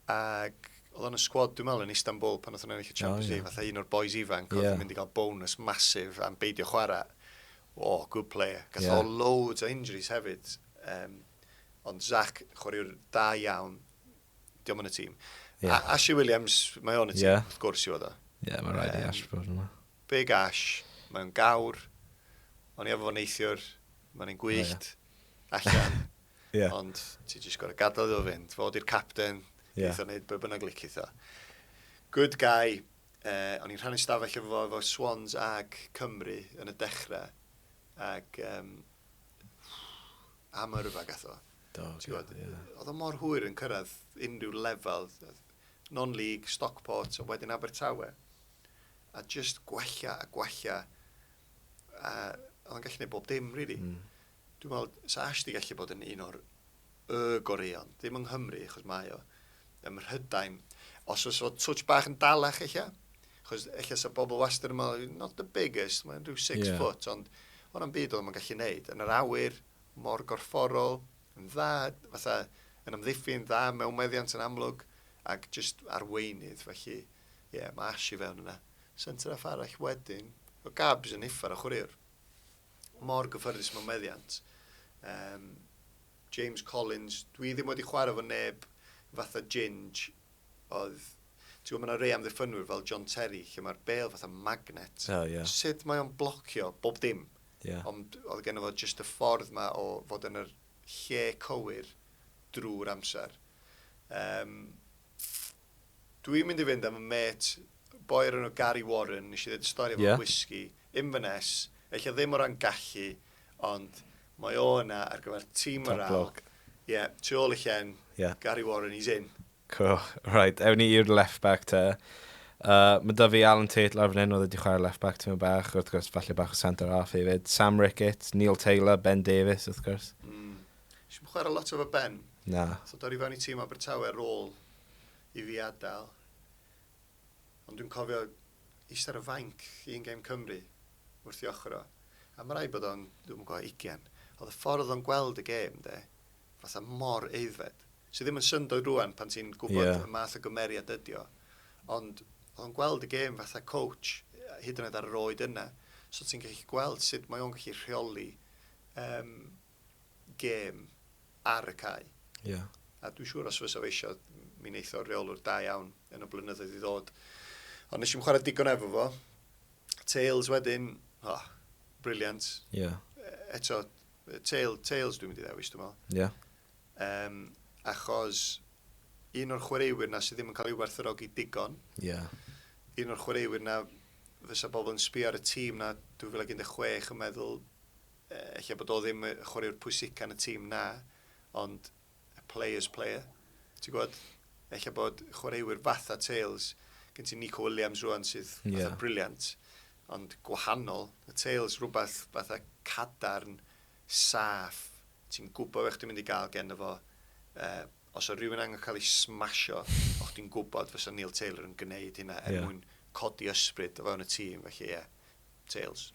Ac oedd o'n y sgwad, dwi'n meddwl, yn Istanbul pan oedd o'n ennill y Champions League. Oh, yeah. Fatha un o'r boys ifanc oedd yeah. mynd i gael bonus masif am beidio chwarae. O, oh, good player. Gath yeah. o loads o injuries hefyd. Um, ond Zach, chwaraewr da iawn, Diolch yn y tîm. Yeah. A Ashley Williams, mae o'n y tîm, yeah. wrth gwrs i fod o. Ie, yeah, mae'n rhaid i Ash bod yna. Big Ash, mae'n gawr, o'n i efo fo neithiwr, mae'n ein gwyllt, oh, yeah. allan. yeah. Ond ti jyst gorau gadael iddo fynd, fod i'r capten, yeah. eitho wneud be bynnag lic eitho. Good guy, uh, o'n i'n rhannu stafell efo fo, efo Swans ag Cymru yn y dechrau, ac um, am yrfa gatho. Do, gwybod, ie. Oedd o mor hwyr yn cyrraedd unrhyw lefel, non-league, Stockport, a wedyn Abertawe, a jyst gwella a gwella, a oedd o'n gallu gwneud bob dim, rili. Really. Mm. Dwi'n meddwl, sa Ash di gallu bod yn un o'r y goreion, ddim yng Nghymru, achos mae o, ym Mhrydain. Os oes o twtch bach yn dalach, eich Chos eich sa bobl wastad yn meddwl, not the biggest, mae'n rhyw six yeah. foot, ond o'n am byd oedd o'n gallu neud. Yn yr awyr, mor gorfforol, yn dda, fatha, yn amddiffyn, dda mewn meddiant yn amlwg, ac jyst arweinydd, felly, ie, mae Ash i fewn yna. Centre half arall wedyn, o Gabs yn uffar o chwaraewr. Mor gyffyrddus mewn meddiant. Um, James Collins, dwi ddim wedi chwarae fo neb fatha Ginge, oedd, ti'n gwybod, mae yna rei amddiffynwyr fel John Terry, lle mae'r bel fatha magnet. Oh, yeah. Sut mae o'n blocio bob dim? Yeah. Ond oedd gen fod jyst y ffordd mae o fod yn yr lle cywir drwy'r amser. Um, Dwi'n mynd i fynd am y met boi ar enw Gary Warren, nes i ddweud y stori efo yeah. whisky, Inverness, eich ddim o ran gallu, ond Mae o yna ar gyfer tîm morale. Top bloke. Ie, tu ôl i Llen. Ie. Gary Warren, he's in. Cool. Right, ewn ni i'r left back te. Uh, mae da fi Alan Tate lawr fan hyn, oedd wedi chwarae left back tymor bach, wrth gwrs, falle bach o centre half hefyd. Sam Ricketts, Neil Taylor, Ben Davies, wrth gwrs. Mm. Si'n bod chwarae lot efo Ben. Na. So dod i fewn i tîm Abertawe rôl i fi adael. Ond dwi'n cofio Eistedd ar y fainc un gêm Cymru wrth ei ochr o, a ma' raid bod o'n, dwi'm yn gwybod, ugian. O'dd y ffordd o'n gweld y gêm 'de, fatha mor aeddfed. Sy ddim yn syndod rŵan pan ti'n gwybod... Ie. ...y math o gymeriad ydi o, ond o'dd o'n gweld y gêm fatha coach, hyd yn oed ar yr oed yna. So ti'n gallu gweld sut mae o'n gallu rheoli yym gêm ar y cae. Yeah. A dwi'n siŵr os fysa fe eisiau, mi wneith o'r reolwr da iawn yn y blynyddoedd i ddod. Ond nes i'n chwarae digon efo fo. Tails wedyn, oh, briliant. Yeah. Eto, tail, tails dwi'n mynd i ddewis, dwi'n meddwl. Yeah. Um, achos un o'r chwaraewyr na sydd ddim yn cael ei werthorogi digon. Yeah. Un o'r chwaraewyr na fysa bobl yn sbio ar y tîm na 2016 yn meddwl Ella bod o ddim y chwaraewr pwysica yn y tîm, na, ond a player's player, ti'n gwybod? Ella bod chwaraewyr fatha Tales, gen ti Nico Williams rwan sydd fatha yeah. briliant, ond gwahanol. Y Tales rhywbeth fatha cadarn, saff, ti'n gwybod beth ti'n mynd i gael gen fo, uh, Os oedd rhywun angen cael ei smasio, o' chdi'n gwybod fysa Neil Taylor yn gwneud hynna er mwyn codi ysbryd o fewn y tîm, felly ie, Tails.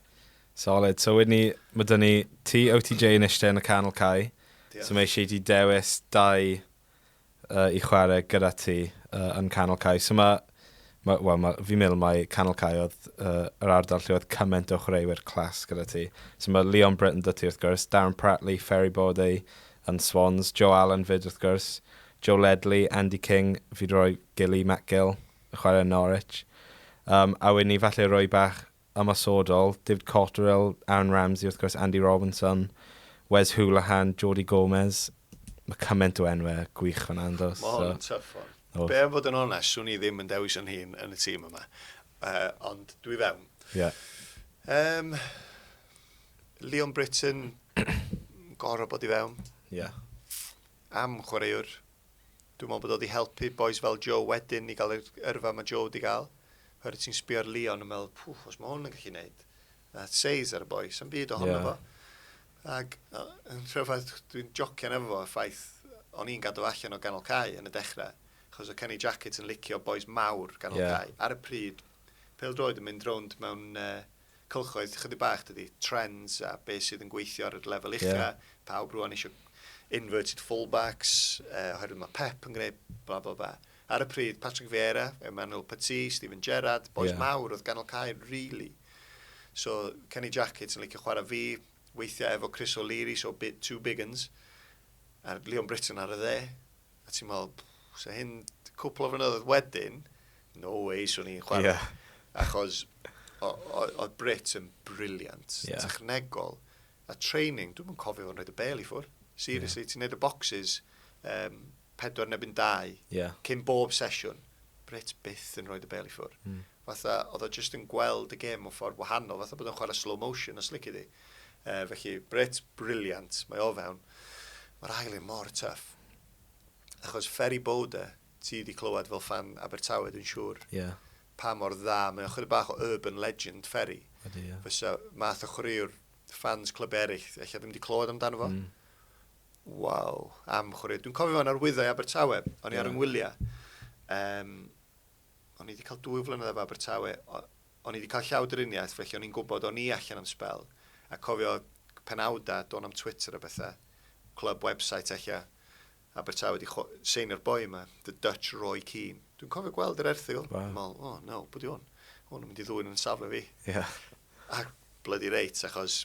Solid. So wedyn ni, mae dyn ni ti, OTJ yn eistedd yn y canol cae. Diolch. So mae eisiau i ti dewis dau uh, i chwarae gyda ti uh, yn canol cae. So mae Mae, wel, mae, fi'n meddwl mai Canol Caeodd uh, yr ardal lle oedd cymaint o chwaraewyr clas gyda ti. So mae Leon Britton dy ti wrth gwrs, Darren Pratley, Ferry Bodey yn Swans, Joe Allen fyd wrth gwrs, Joe Ledley, Andy King, fi wedi rhoi Gilly, Matt Gill, y chwarae yn Norwich. Um, a wedyn ni falle roi bach ymosodol, David Cotterill, Aaron Ramsey, wrth gwrs, Andy Robinson, Wes Hoolahan, Jody Gomez. Mae cymaint o enwau gwych fan'na yn does? Mae hwn yn tuff hwn. Oes. Be am fod yn onest, swn i ddim yn dewis yn hun yn y tîm yma. Uh, ond dwi fewn. Ie. Yeah. Um, Leon Britton, gorau bod i fewn. Ie. Yeah. Am chwaraewr Dwi'n meddwl bod o wedi helpu bois fel Joe wedyn i gael yr yrfa mae Joe wedi cael. Oherwydd ti'n sbio ar Leon yn meddwl, pwff, os mae hwn yn gallu gwneud. That says ar y boi, sy'n byd ohono yeah. fo. Ac yn rhyfedd, dwi'n jocian efo fo, ffaith, o'n i'n gadw allan o ganol cae yn y dechrau, achos o Kenny Jacket yn licio bois mawr ganol yeah. cae. Ar y pryd, pel droed yn mynd rownd mewn uh, cylchoedd chydig bach dydy, trends a beth sydd yn gweithio ar y lefel ucha. Yeah. Pawb rwan eisiau inverted fullbacks, uh, oherwydd mae Pep yn gwneud bla bla bla. Ar y pryd, Patrick Vieira, Emmanuel Petit, Stephen Gerrard, boes yeah. mawr oedd ganol cael, really. So, Kenny Jackett yn licio chwarae fi, weithiau efo Chris O'Leary, so bit two big uns, a Leon Britton ar y dde. A ti'n meddwl, so hyn, cwpl o flynyddoedd wedyn, no way, swn i'n chwarae. Yeah. Achos, oedd Brits yn briliant, yeah. technegol, a training, dwi'n cofio fo'n rhaid y bel i ffwrdd. Seriously, yeah. ti'n neud y boxes, um, pedwar nebyn dau, yeah. cyn bob sesiwn. Brits byth yn rhoi dy bel i ffwrdd. Mm. fatha oedd o jyst yn gweld y gêm mewn ffordd wahanol, fatha bod o'n chwarae slow motion os lici di. Uh, felly, Brits, briliant, mae o fewn. Mae'r ail un mor tuff. Achos Ferry Bode, ti di clywed fel fan Abertawe, dwi'n siŵr. Ie. Yeah. Pa mor dda, mae o'n chwarae bach o urban legend, Ferry. Ydy, ie. Yeah. Fysa math o chwaraewr fans clyb eraill, eich ddim wedi clywed amdano fo. Mm. Waw, am chwaraewr. Dwi'n cofio fo'n arwyddau Abertawe, o'n i yeah. ar yng Ngwyliau. Um, O'n i 'di cael dwy flynedd efo Abertawe, o'n i 'di cael llawdriniaeth, felly o'n i'n gwybod o'n i allan am sbel, a cofio penawdau, dôn am Twitter a bethau, clwb website ella, Abertawe 'di seinio'r boi yma, The Dutch Roy Keane. Dwi'n cofio gweld yr erthygl, wow. meddwl, oh no, bwyd i hwn, hwn yn mynd i ddwy'n yn safle fi. Yeah. A bloody reit, achos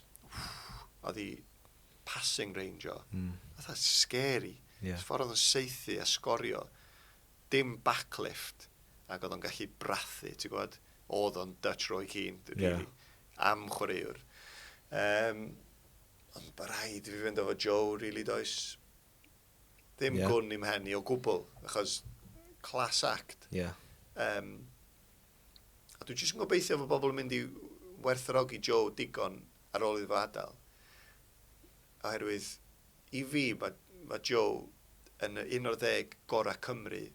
oedd hi passing range o. Mm. Oedd scary. Yeah. Ffordd oedd yn seithi a sgorio. dim backlift, ac oedd o'n gallu brathu, ti'n gwybod? Oedd o'n Dutch Roy Keane, rili, yeah. am chwaraewr. Um, ond bod rhaid i fi fynd efo Joe, rili, really, does. Ddim yeah. gwn i'm hen i o gwbl, achos class act. Yeah. Um, a dwi'n jyst yn gobeithio fod bobl yn mynd i werthrogi Joe digon ar ôl iddo fo adael. oherwydd i fi ma' ma' Joe yn y 11 gora' Cymru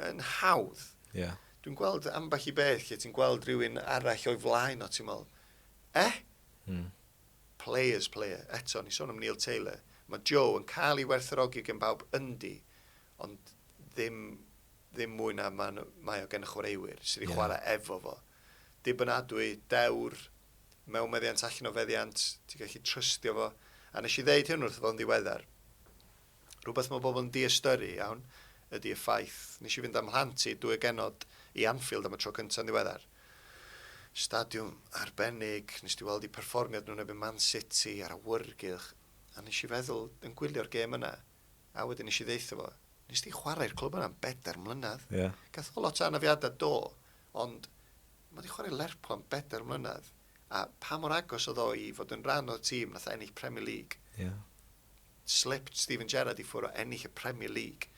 yn hawdd. Ie. Dwi'n gweld ambell i beth lle ti'n gweld rhywun arall o'i flaen o ti'n meddwl, eh? Mm. Players, player. Eto, ni sôn am Neil Taylor. Mae Joe yn cael ei werthorogi gen bawb yndi, ond ddim, ddim mwy na mae, mae o gen y chwaraewyr sydd wedi yeah. chwarae efo fo. dibynadwy, dewr, mewn meddiant allan o feddiant, ti'n gallu trystio fo. A nes i ddeud hyn wrtho fo yn ddiweddar. Rhywbeth mae bobl yn diystyrru iawn ydy y ffaith, nes i fynd â'm mhlant i dwy o genod i Anfield am y tro cynta yn ddiweddar. Stadiwm arbennig, nes di weld i perfformiad nhw yn erbyn Man City, a'r awyrgylch, a nes i feddwl yn gwylio'r gêm yna, A wedyn nes i ddeitha fo, nes di chwarae i'r clwb yna am bedair mlynedd. Ie. Yeah. Gath o lot o anafiadau do, ond mae wedi chwarae Lerpwl am bedair mlynedd, a pa mor agos oedd o i fod yn rhan o'r tîm nath ennill Premier League. Ie. Yeah. Slipped Steven Gerrard i ffwrdd o ennill y Premier League.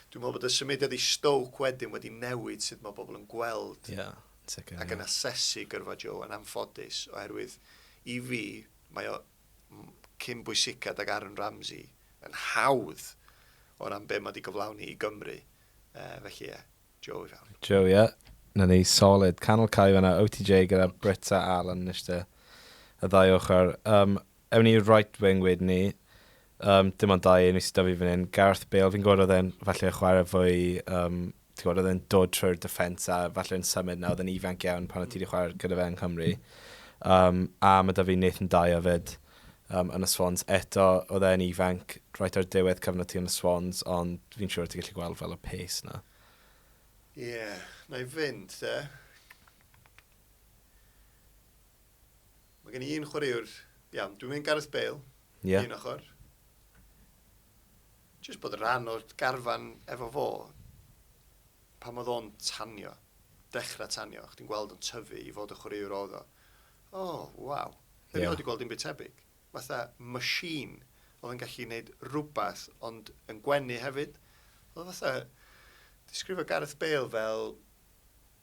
Dwi'n meddwl bod y symudiad i Stoke wedyn wedi newid sut mae bobl yn gweld yeah, sicr, ac yn yeah. asesu gyrfa Joe yn anffodus, oherwydd i fi, mae o cyn bwysicad ag Aaron Ramsey yn hawdd o ran be mae wedi gyflawni i Gymru. Uh, felly ie, Joe i fewn. Joe, ie. Na ni, solid. Canol cae fanna, OTJ gyda Brits a Allan yn eistedd y ddau ochr. Um, ewn ni right wing wedyn ni. Yym dim ond dau un i sy 'da fi fan 'yn. Gareth Bale fi'n gwybod oedd e'n falle yn chwarae fwy yym ti'n gwybod oedd e'n dod trwy'r defence a falle yn symud 'na oedd e'n ifanc iawn pan oedd ti 'di chwarae gyda fe yng Nghymru. Um, a mae 'da fi Nathan Dyer 'fyd um, yn y Swans. Eto oedd e'n ifanc right ar diwedd cyfnod ti yn y Swans ond fi'n siŵr ti'n gallu gweld fel y pace 'na. Ie, yeah, na i fynd te. Mae gen i un chwaraewr, iawn, dwi'n mynd Gareth Bale, yeah. un ochr. Just bod rhan o'r garfan efo fo, pan oedd o'n tanio, dechrau tanio, chdi'n gweld o'n tyfu i fod y chwaraewr oedd o. O, oh, waw. Fe yeah. wedi gweld dim byd tebyg. Fatha machine oedd yn gallu gwneud rhywbeth, ond yn gwenu hefyd. Oedd fatha, disgrifio Gareth Bale fel,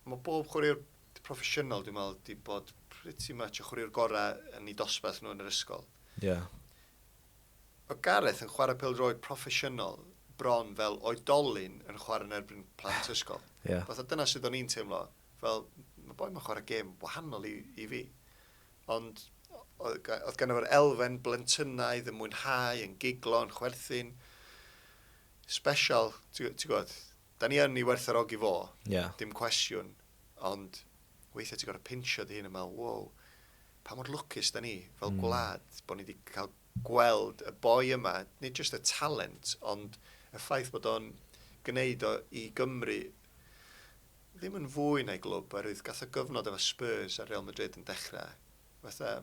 mae bob chwaraewr proffesiynol, dwi'n meddwl, di bod pretty much y chwaraewr gorau yn ei dosbarth nhw yn yr ysgol. Ie. Yeah. Mae Gareth yn chwarae pel droed proffesiynol bron fel oedolyn yn chwarae yn erbyn plant ysgol. Ie. Yeah. Fatha dyna sydd o'n i'n teimlo, fel, mae boi mae'n chwarae gêm wahanol i, i fi. Ond oedd gan efo'r elfen blentynnaidd yn mwynhau, yn giglo, yn chwerthin. Special, ti'n gwybod, Da ni yn ei werthfawrogi fo, dim cwestiwn, ond weithiau ti'n gorfod pinsio dy hun a meddwl, wow, pa mor lwcus da ni fel gwlad bod ni wedi cael gweld y boi yma, nid jyst y talent, ond y ffaith bod o'n gwneud o i Gymru ddim yn fwy na'i glwb, oherwydd gath o gyfnod efo Spurs a Real Madrid yn dechrau fatha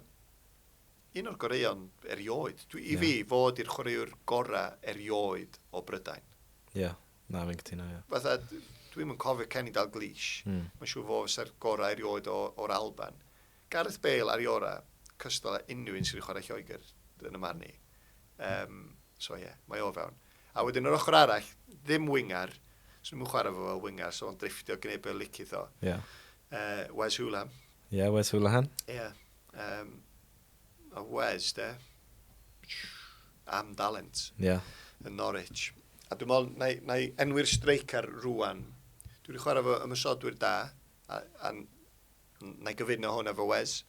un o'r goreuon erioed. Dwi, I fi, fod i'r chwaraewr gorau erioed o Brydain. Ie. Yeah. Na, fi'n cytuno, ie. Fatha, dwi'm yn cofio Kenny Dalglish. Mm. Mae'n siŵr fo fysa'r gorau erioed o'r Alban. Gareth Bale ar ei ora, cystal a unrhyw un sydd wedi chwarae Lloegr, yn y marn i. Um, so ie, yeah, mae o fewn. A wedyn yr ochr arall, ddim wingar, so nhw'n chwarae fo fel wingar, so o'n drifftio gwneud beth licith o. Ie. Yeah. Uh, Wes Hulahan. Ie, yeah, Wes Hulahan. Ie. Yeah. Um, a Wes, de. Am dalent. Ie. Yeah. Yn Norwich. A dwi'n meddwl, na i, na i enwi'r streicar rwan. Dwi wedi chwarae fo ymwysodwyr da, a, a na i gyfuno hwn efo Wes.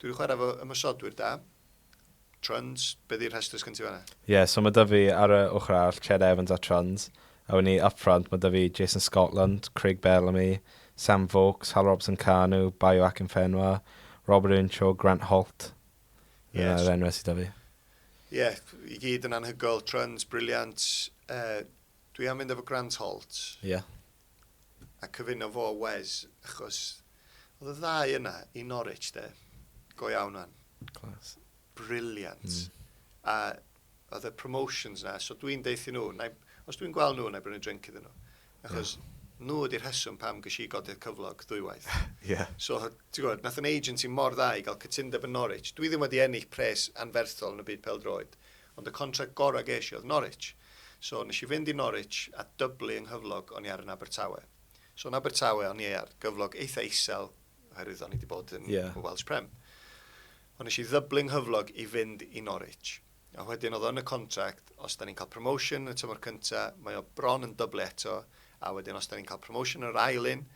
Dwi wedi chwarae fo ymwysodwyr da. Trons, be ddi'r rhestr sgyn ti fanna? Ie, yeah, so mae Dyfi ar y ochr arall, Ched Evans a Trons. Awn ni upfront, mae 'da fi Jason Scotland, Craig Bellamy, Sam Vokes, Hal Robson-Kanu, Bayo Akinfenwa, Robert Earnshaw, Grant Holt. Ie. Dyna'r enwau sydd 'da fi. Ie, i gyd yn anhygoel, trwns, briliant. Uh, dwi am fynd efo Grant Holt. Ie. A cyfuno fo a Wes, achos oedd y ddau yna i Norwich, de. Go iawn, man. Clas. Briliant. Mm. A oedd y promotions na, so dwi'n deithi nhw, na, os dwi'n gweld nhw, na i brynu drink iddyn nhw. Achos yeah. nhw ydy'r rheswm pam gysi i godydd cyflog ddwywaith. yeah. So, ti'n gwybod, nath yn agency mor dda i gael cytundeb yn Norwich. Dwi ddim wedi ennill pres anferthol yn y byd peldroed, ond y contract gorau ges i oedd Norwich. So, nes i fynd i Norwich a dyblu yng nghyflog o'n i ar yn Abertawe. So, yn Abertawe o'n i ar gyflog eitha isel, oherwydd o'n i wedi bod yn yeah. Welsh Prem. Ond nes i ddyblu 'nghyflog i fynd i Norwich. A wedyn o'dd o yn y contract, os 'dan ni'n ca'l promotion yn y tymor cynta, mae o bron yn dyblu eto, a wedyn os 'dan ni'n ca'l promotion yn yr ail un,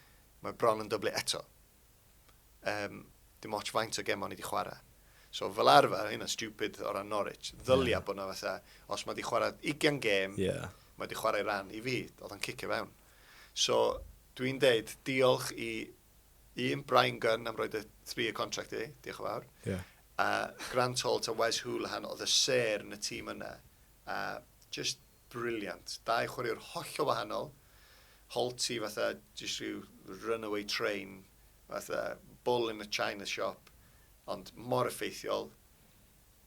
mae o bron yn dyblu eto. Yym, dim ots faint o gemau o'n i 'di chwara'. So fel arfer, hyn yn stupid o ran Norwich, ddylia yeah. bod 'na fatha, os mae 'di chwara' 20 gêm, yeah. mae 'di chwarae ran i fi, oedd o'n cicio fewn. So, dwi'n deud diolch i un, Bryan Gunn am roed y three-year contract i, diolch yn fawr. Yeah. A Grant Holt a Wes Hoolahan oedd y ser yn y tîm yna. A just briliant. Dau chwaraewr holl o wahanol. Holt i fatha just rhyw runaway train, fatha bull in a china shop, ond mor effeithiol.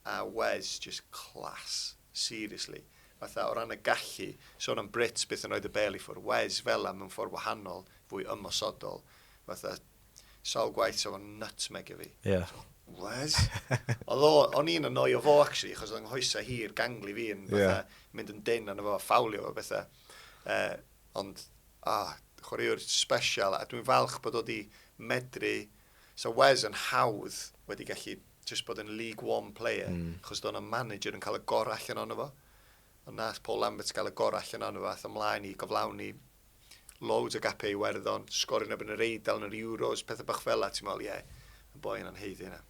a Wes jyst class, seriously. Fatha o ran y gallu, sôn am Brits byth yn rhoid y bel i ffwr, Wes fela mewn ffordd wahanol, fwy ymosodol, fatha sawl gwaith sa fo'n nutmegio fi. Ie. Wes? Oedd o, o'n i'n annoio fo actually, achos oedd yng nghoesau hir, gangli fi yn fatha mynd yn dyn arno fo, ffawlio fo bethau. Uh, ond, ah, chwaraewr special, a dwi'n falch bod o wedi medru, so Wes yn hawdd wedi gallu jyst bod yn League One player, mm. achos do'n o'n manager yn cael y gorau allan ono fo. Ond nath Paul Lambert gael y gorau allan ono fo, ath ymlaen i goflawni loads o gapau i werddon, sgorio neb yn yr eidl yn yr Euros, pethau bach fel la, ti'n meddwl, ie, yeah, y boi yna'n heiddi yna.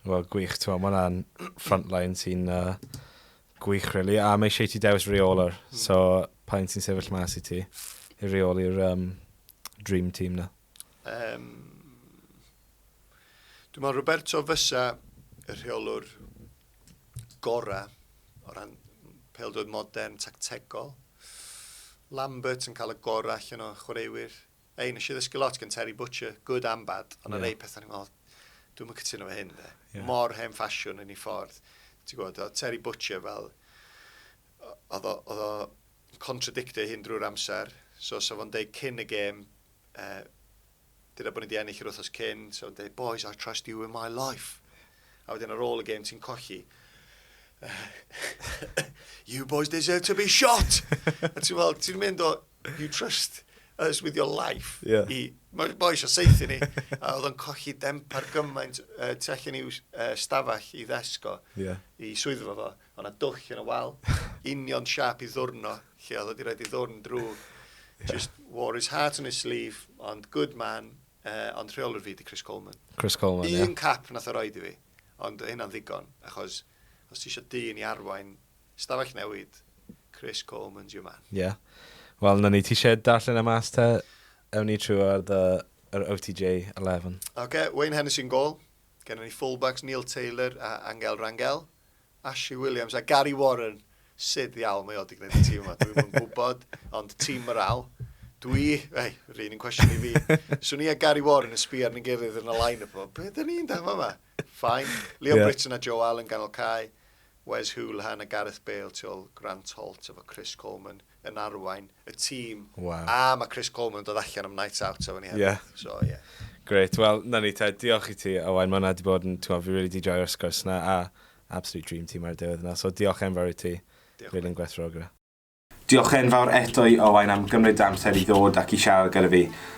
Wel, gwych, ti'n meddwl, mae'n frontline sy'n uh, gwych, really. A mae eisiau ti dewis reoler, mm. so pa un sy'n sefyll mas i ti i reoli'r um, dream team na? Um, Dwi'n meddwl Roberto fysa y rheolwr gorau o ran peldroed modern, tactegol. Lambert yn cael y gorau allan o chwaraewyr. Ei, nes i ddysgu lot gan Terry Butcher, good and bad, ond yeah. rei pethau ni'n meddwl, dwi'n mynd cytuno fe hyn, de. Yeah. Mor hen ffasiwn yn ei ffordd. Ti'n gwybod, Terry Butcher fel, oedd o contradictio hyn drwy'r amser, so sa fo'n deud cyn y gêm, uh, Dyna bod ni 'di ennill yr wythnos cyn, so yn dweud, boys, I trust you with my life. A wedyn ar ôl y gêm ti'n colli. you boys deserve to be shot! a ti'n fel, ti'n mynd o, you trust us with your life. Yeah. I, mae boys o seithi ni. a oedd o'n colli demp ar gymaint uh, tu allan i'w uh, stafell i ddesgo, yeah. i swyddfa fo. O' 'na dwll yn y wal. Union siâp i ddwrn o, lle oedd o 'di rhoid ei ddwrn drwg. Just wore his heart on his sleeve, ond good man, yy, ond rheolwr fi 'di Chris Coleman. Chris Coleman, ie. Un cap nath o roid i fi, ond o' hynna'n ddigon, achos os ti isio dyn i arwain stafell newid, Chris Coleman's your man. Ie. Wel, 'na ni. Ti isie darllen e mas te? Ewn ni trwy ar the, yr OTJ eleven. Ocê, Wayne Hennessey yn gôl. Gennon ni full-backs Neil Taylor a Angel Rangel. Ashley Williams a Gary Warren, sut ddiawl mae o wedi gwneud y tîm yma? Dwi'm yn gwybod, ond tîm morale. Dwi, ei, yr un yn cwestiwn i fi. Swn i a Gary Warren yn sbio arnyn gilydd yn y line up yma. Be dyn ni'n dan yma? Fine. Leo yeah. Britton a Joe Allen ganol cae. Wes Hoolahan a Gareth Bale tu ôl Grant Holt efo Chris Coleman. yn arwain y tîm. Wow. A mae Chris Coleman yn dod allan am night out efo ni hefyd. Yeah. So, ie. Yeah. Great. Wel, na ni te, diolch i ti, Owain. Mae hwnna di bod yn, ti'n fi really di joio'r sgwrs na, a absolute dream team ar y diwedd yna. So, diolch enfawr i ti. Diolch. Rili'n gwerthfawrogi. Diolch enfawr eto i Owain am gymryd dy amser i ddod ac i siarad gyda fi.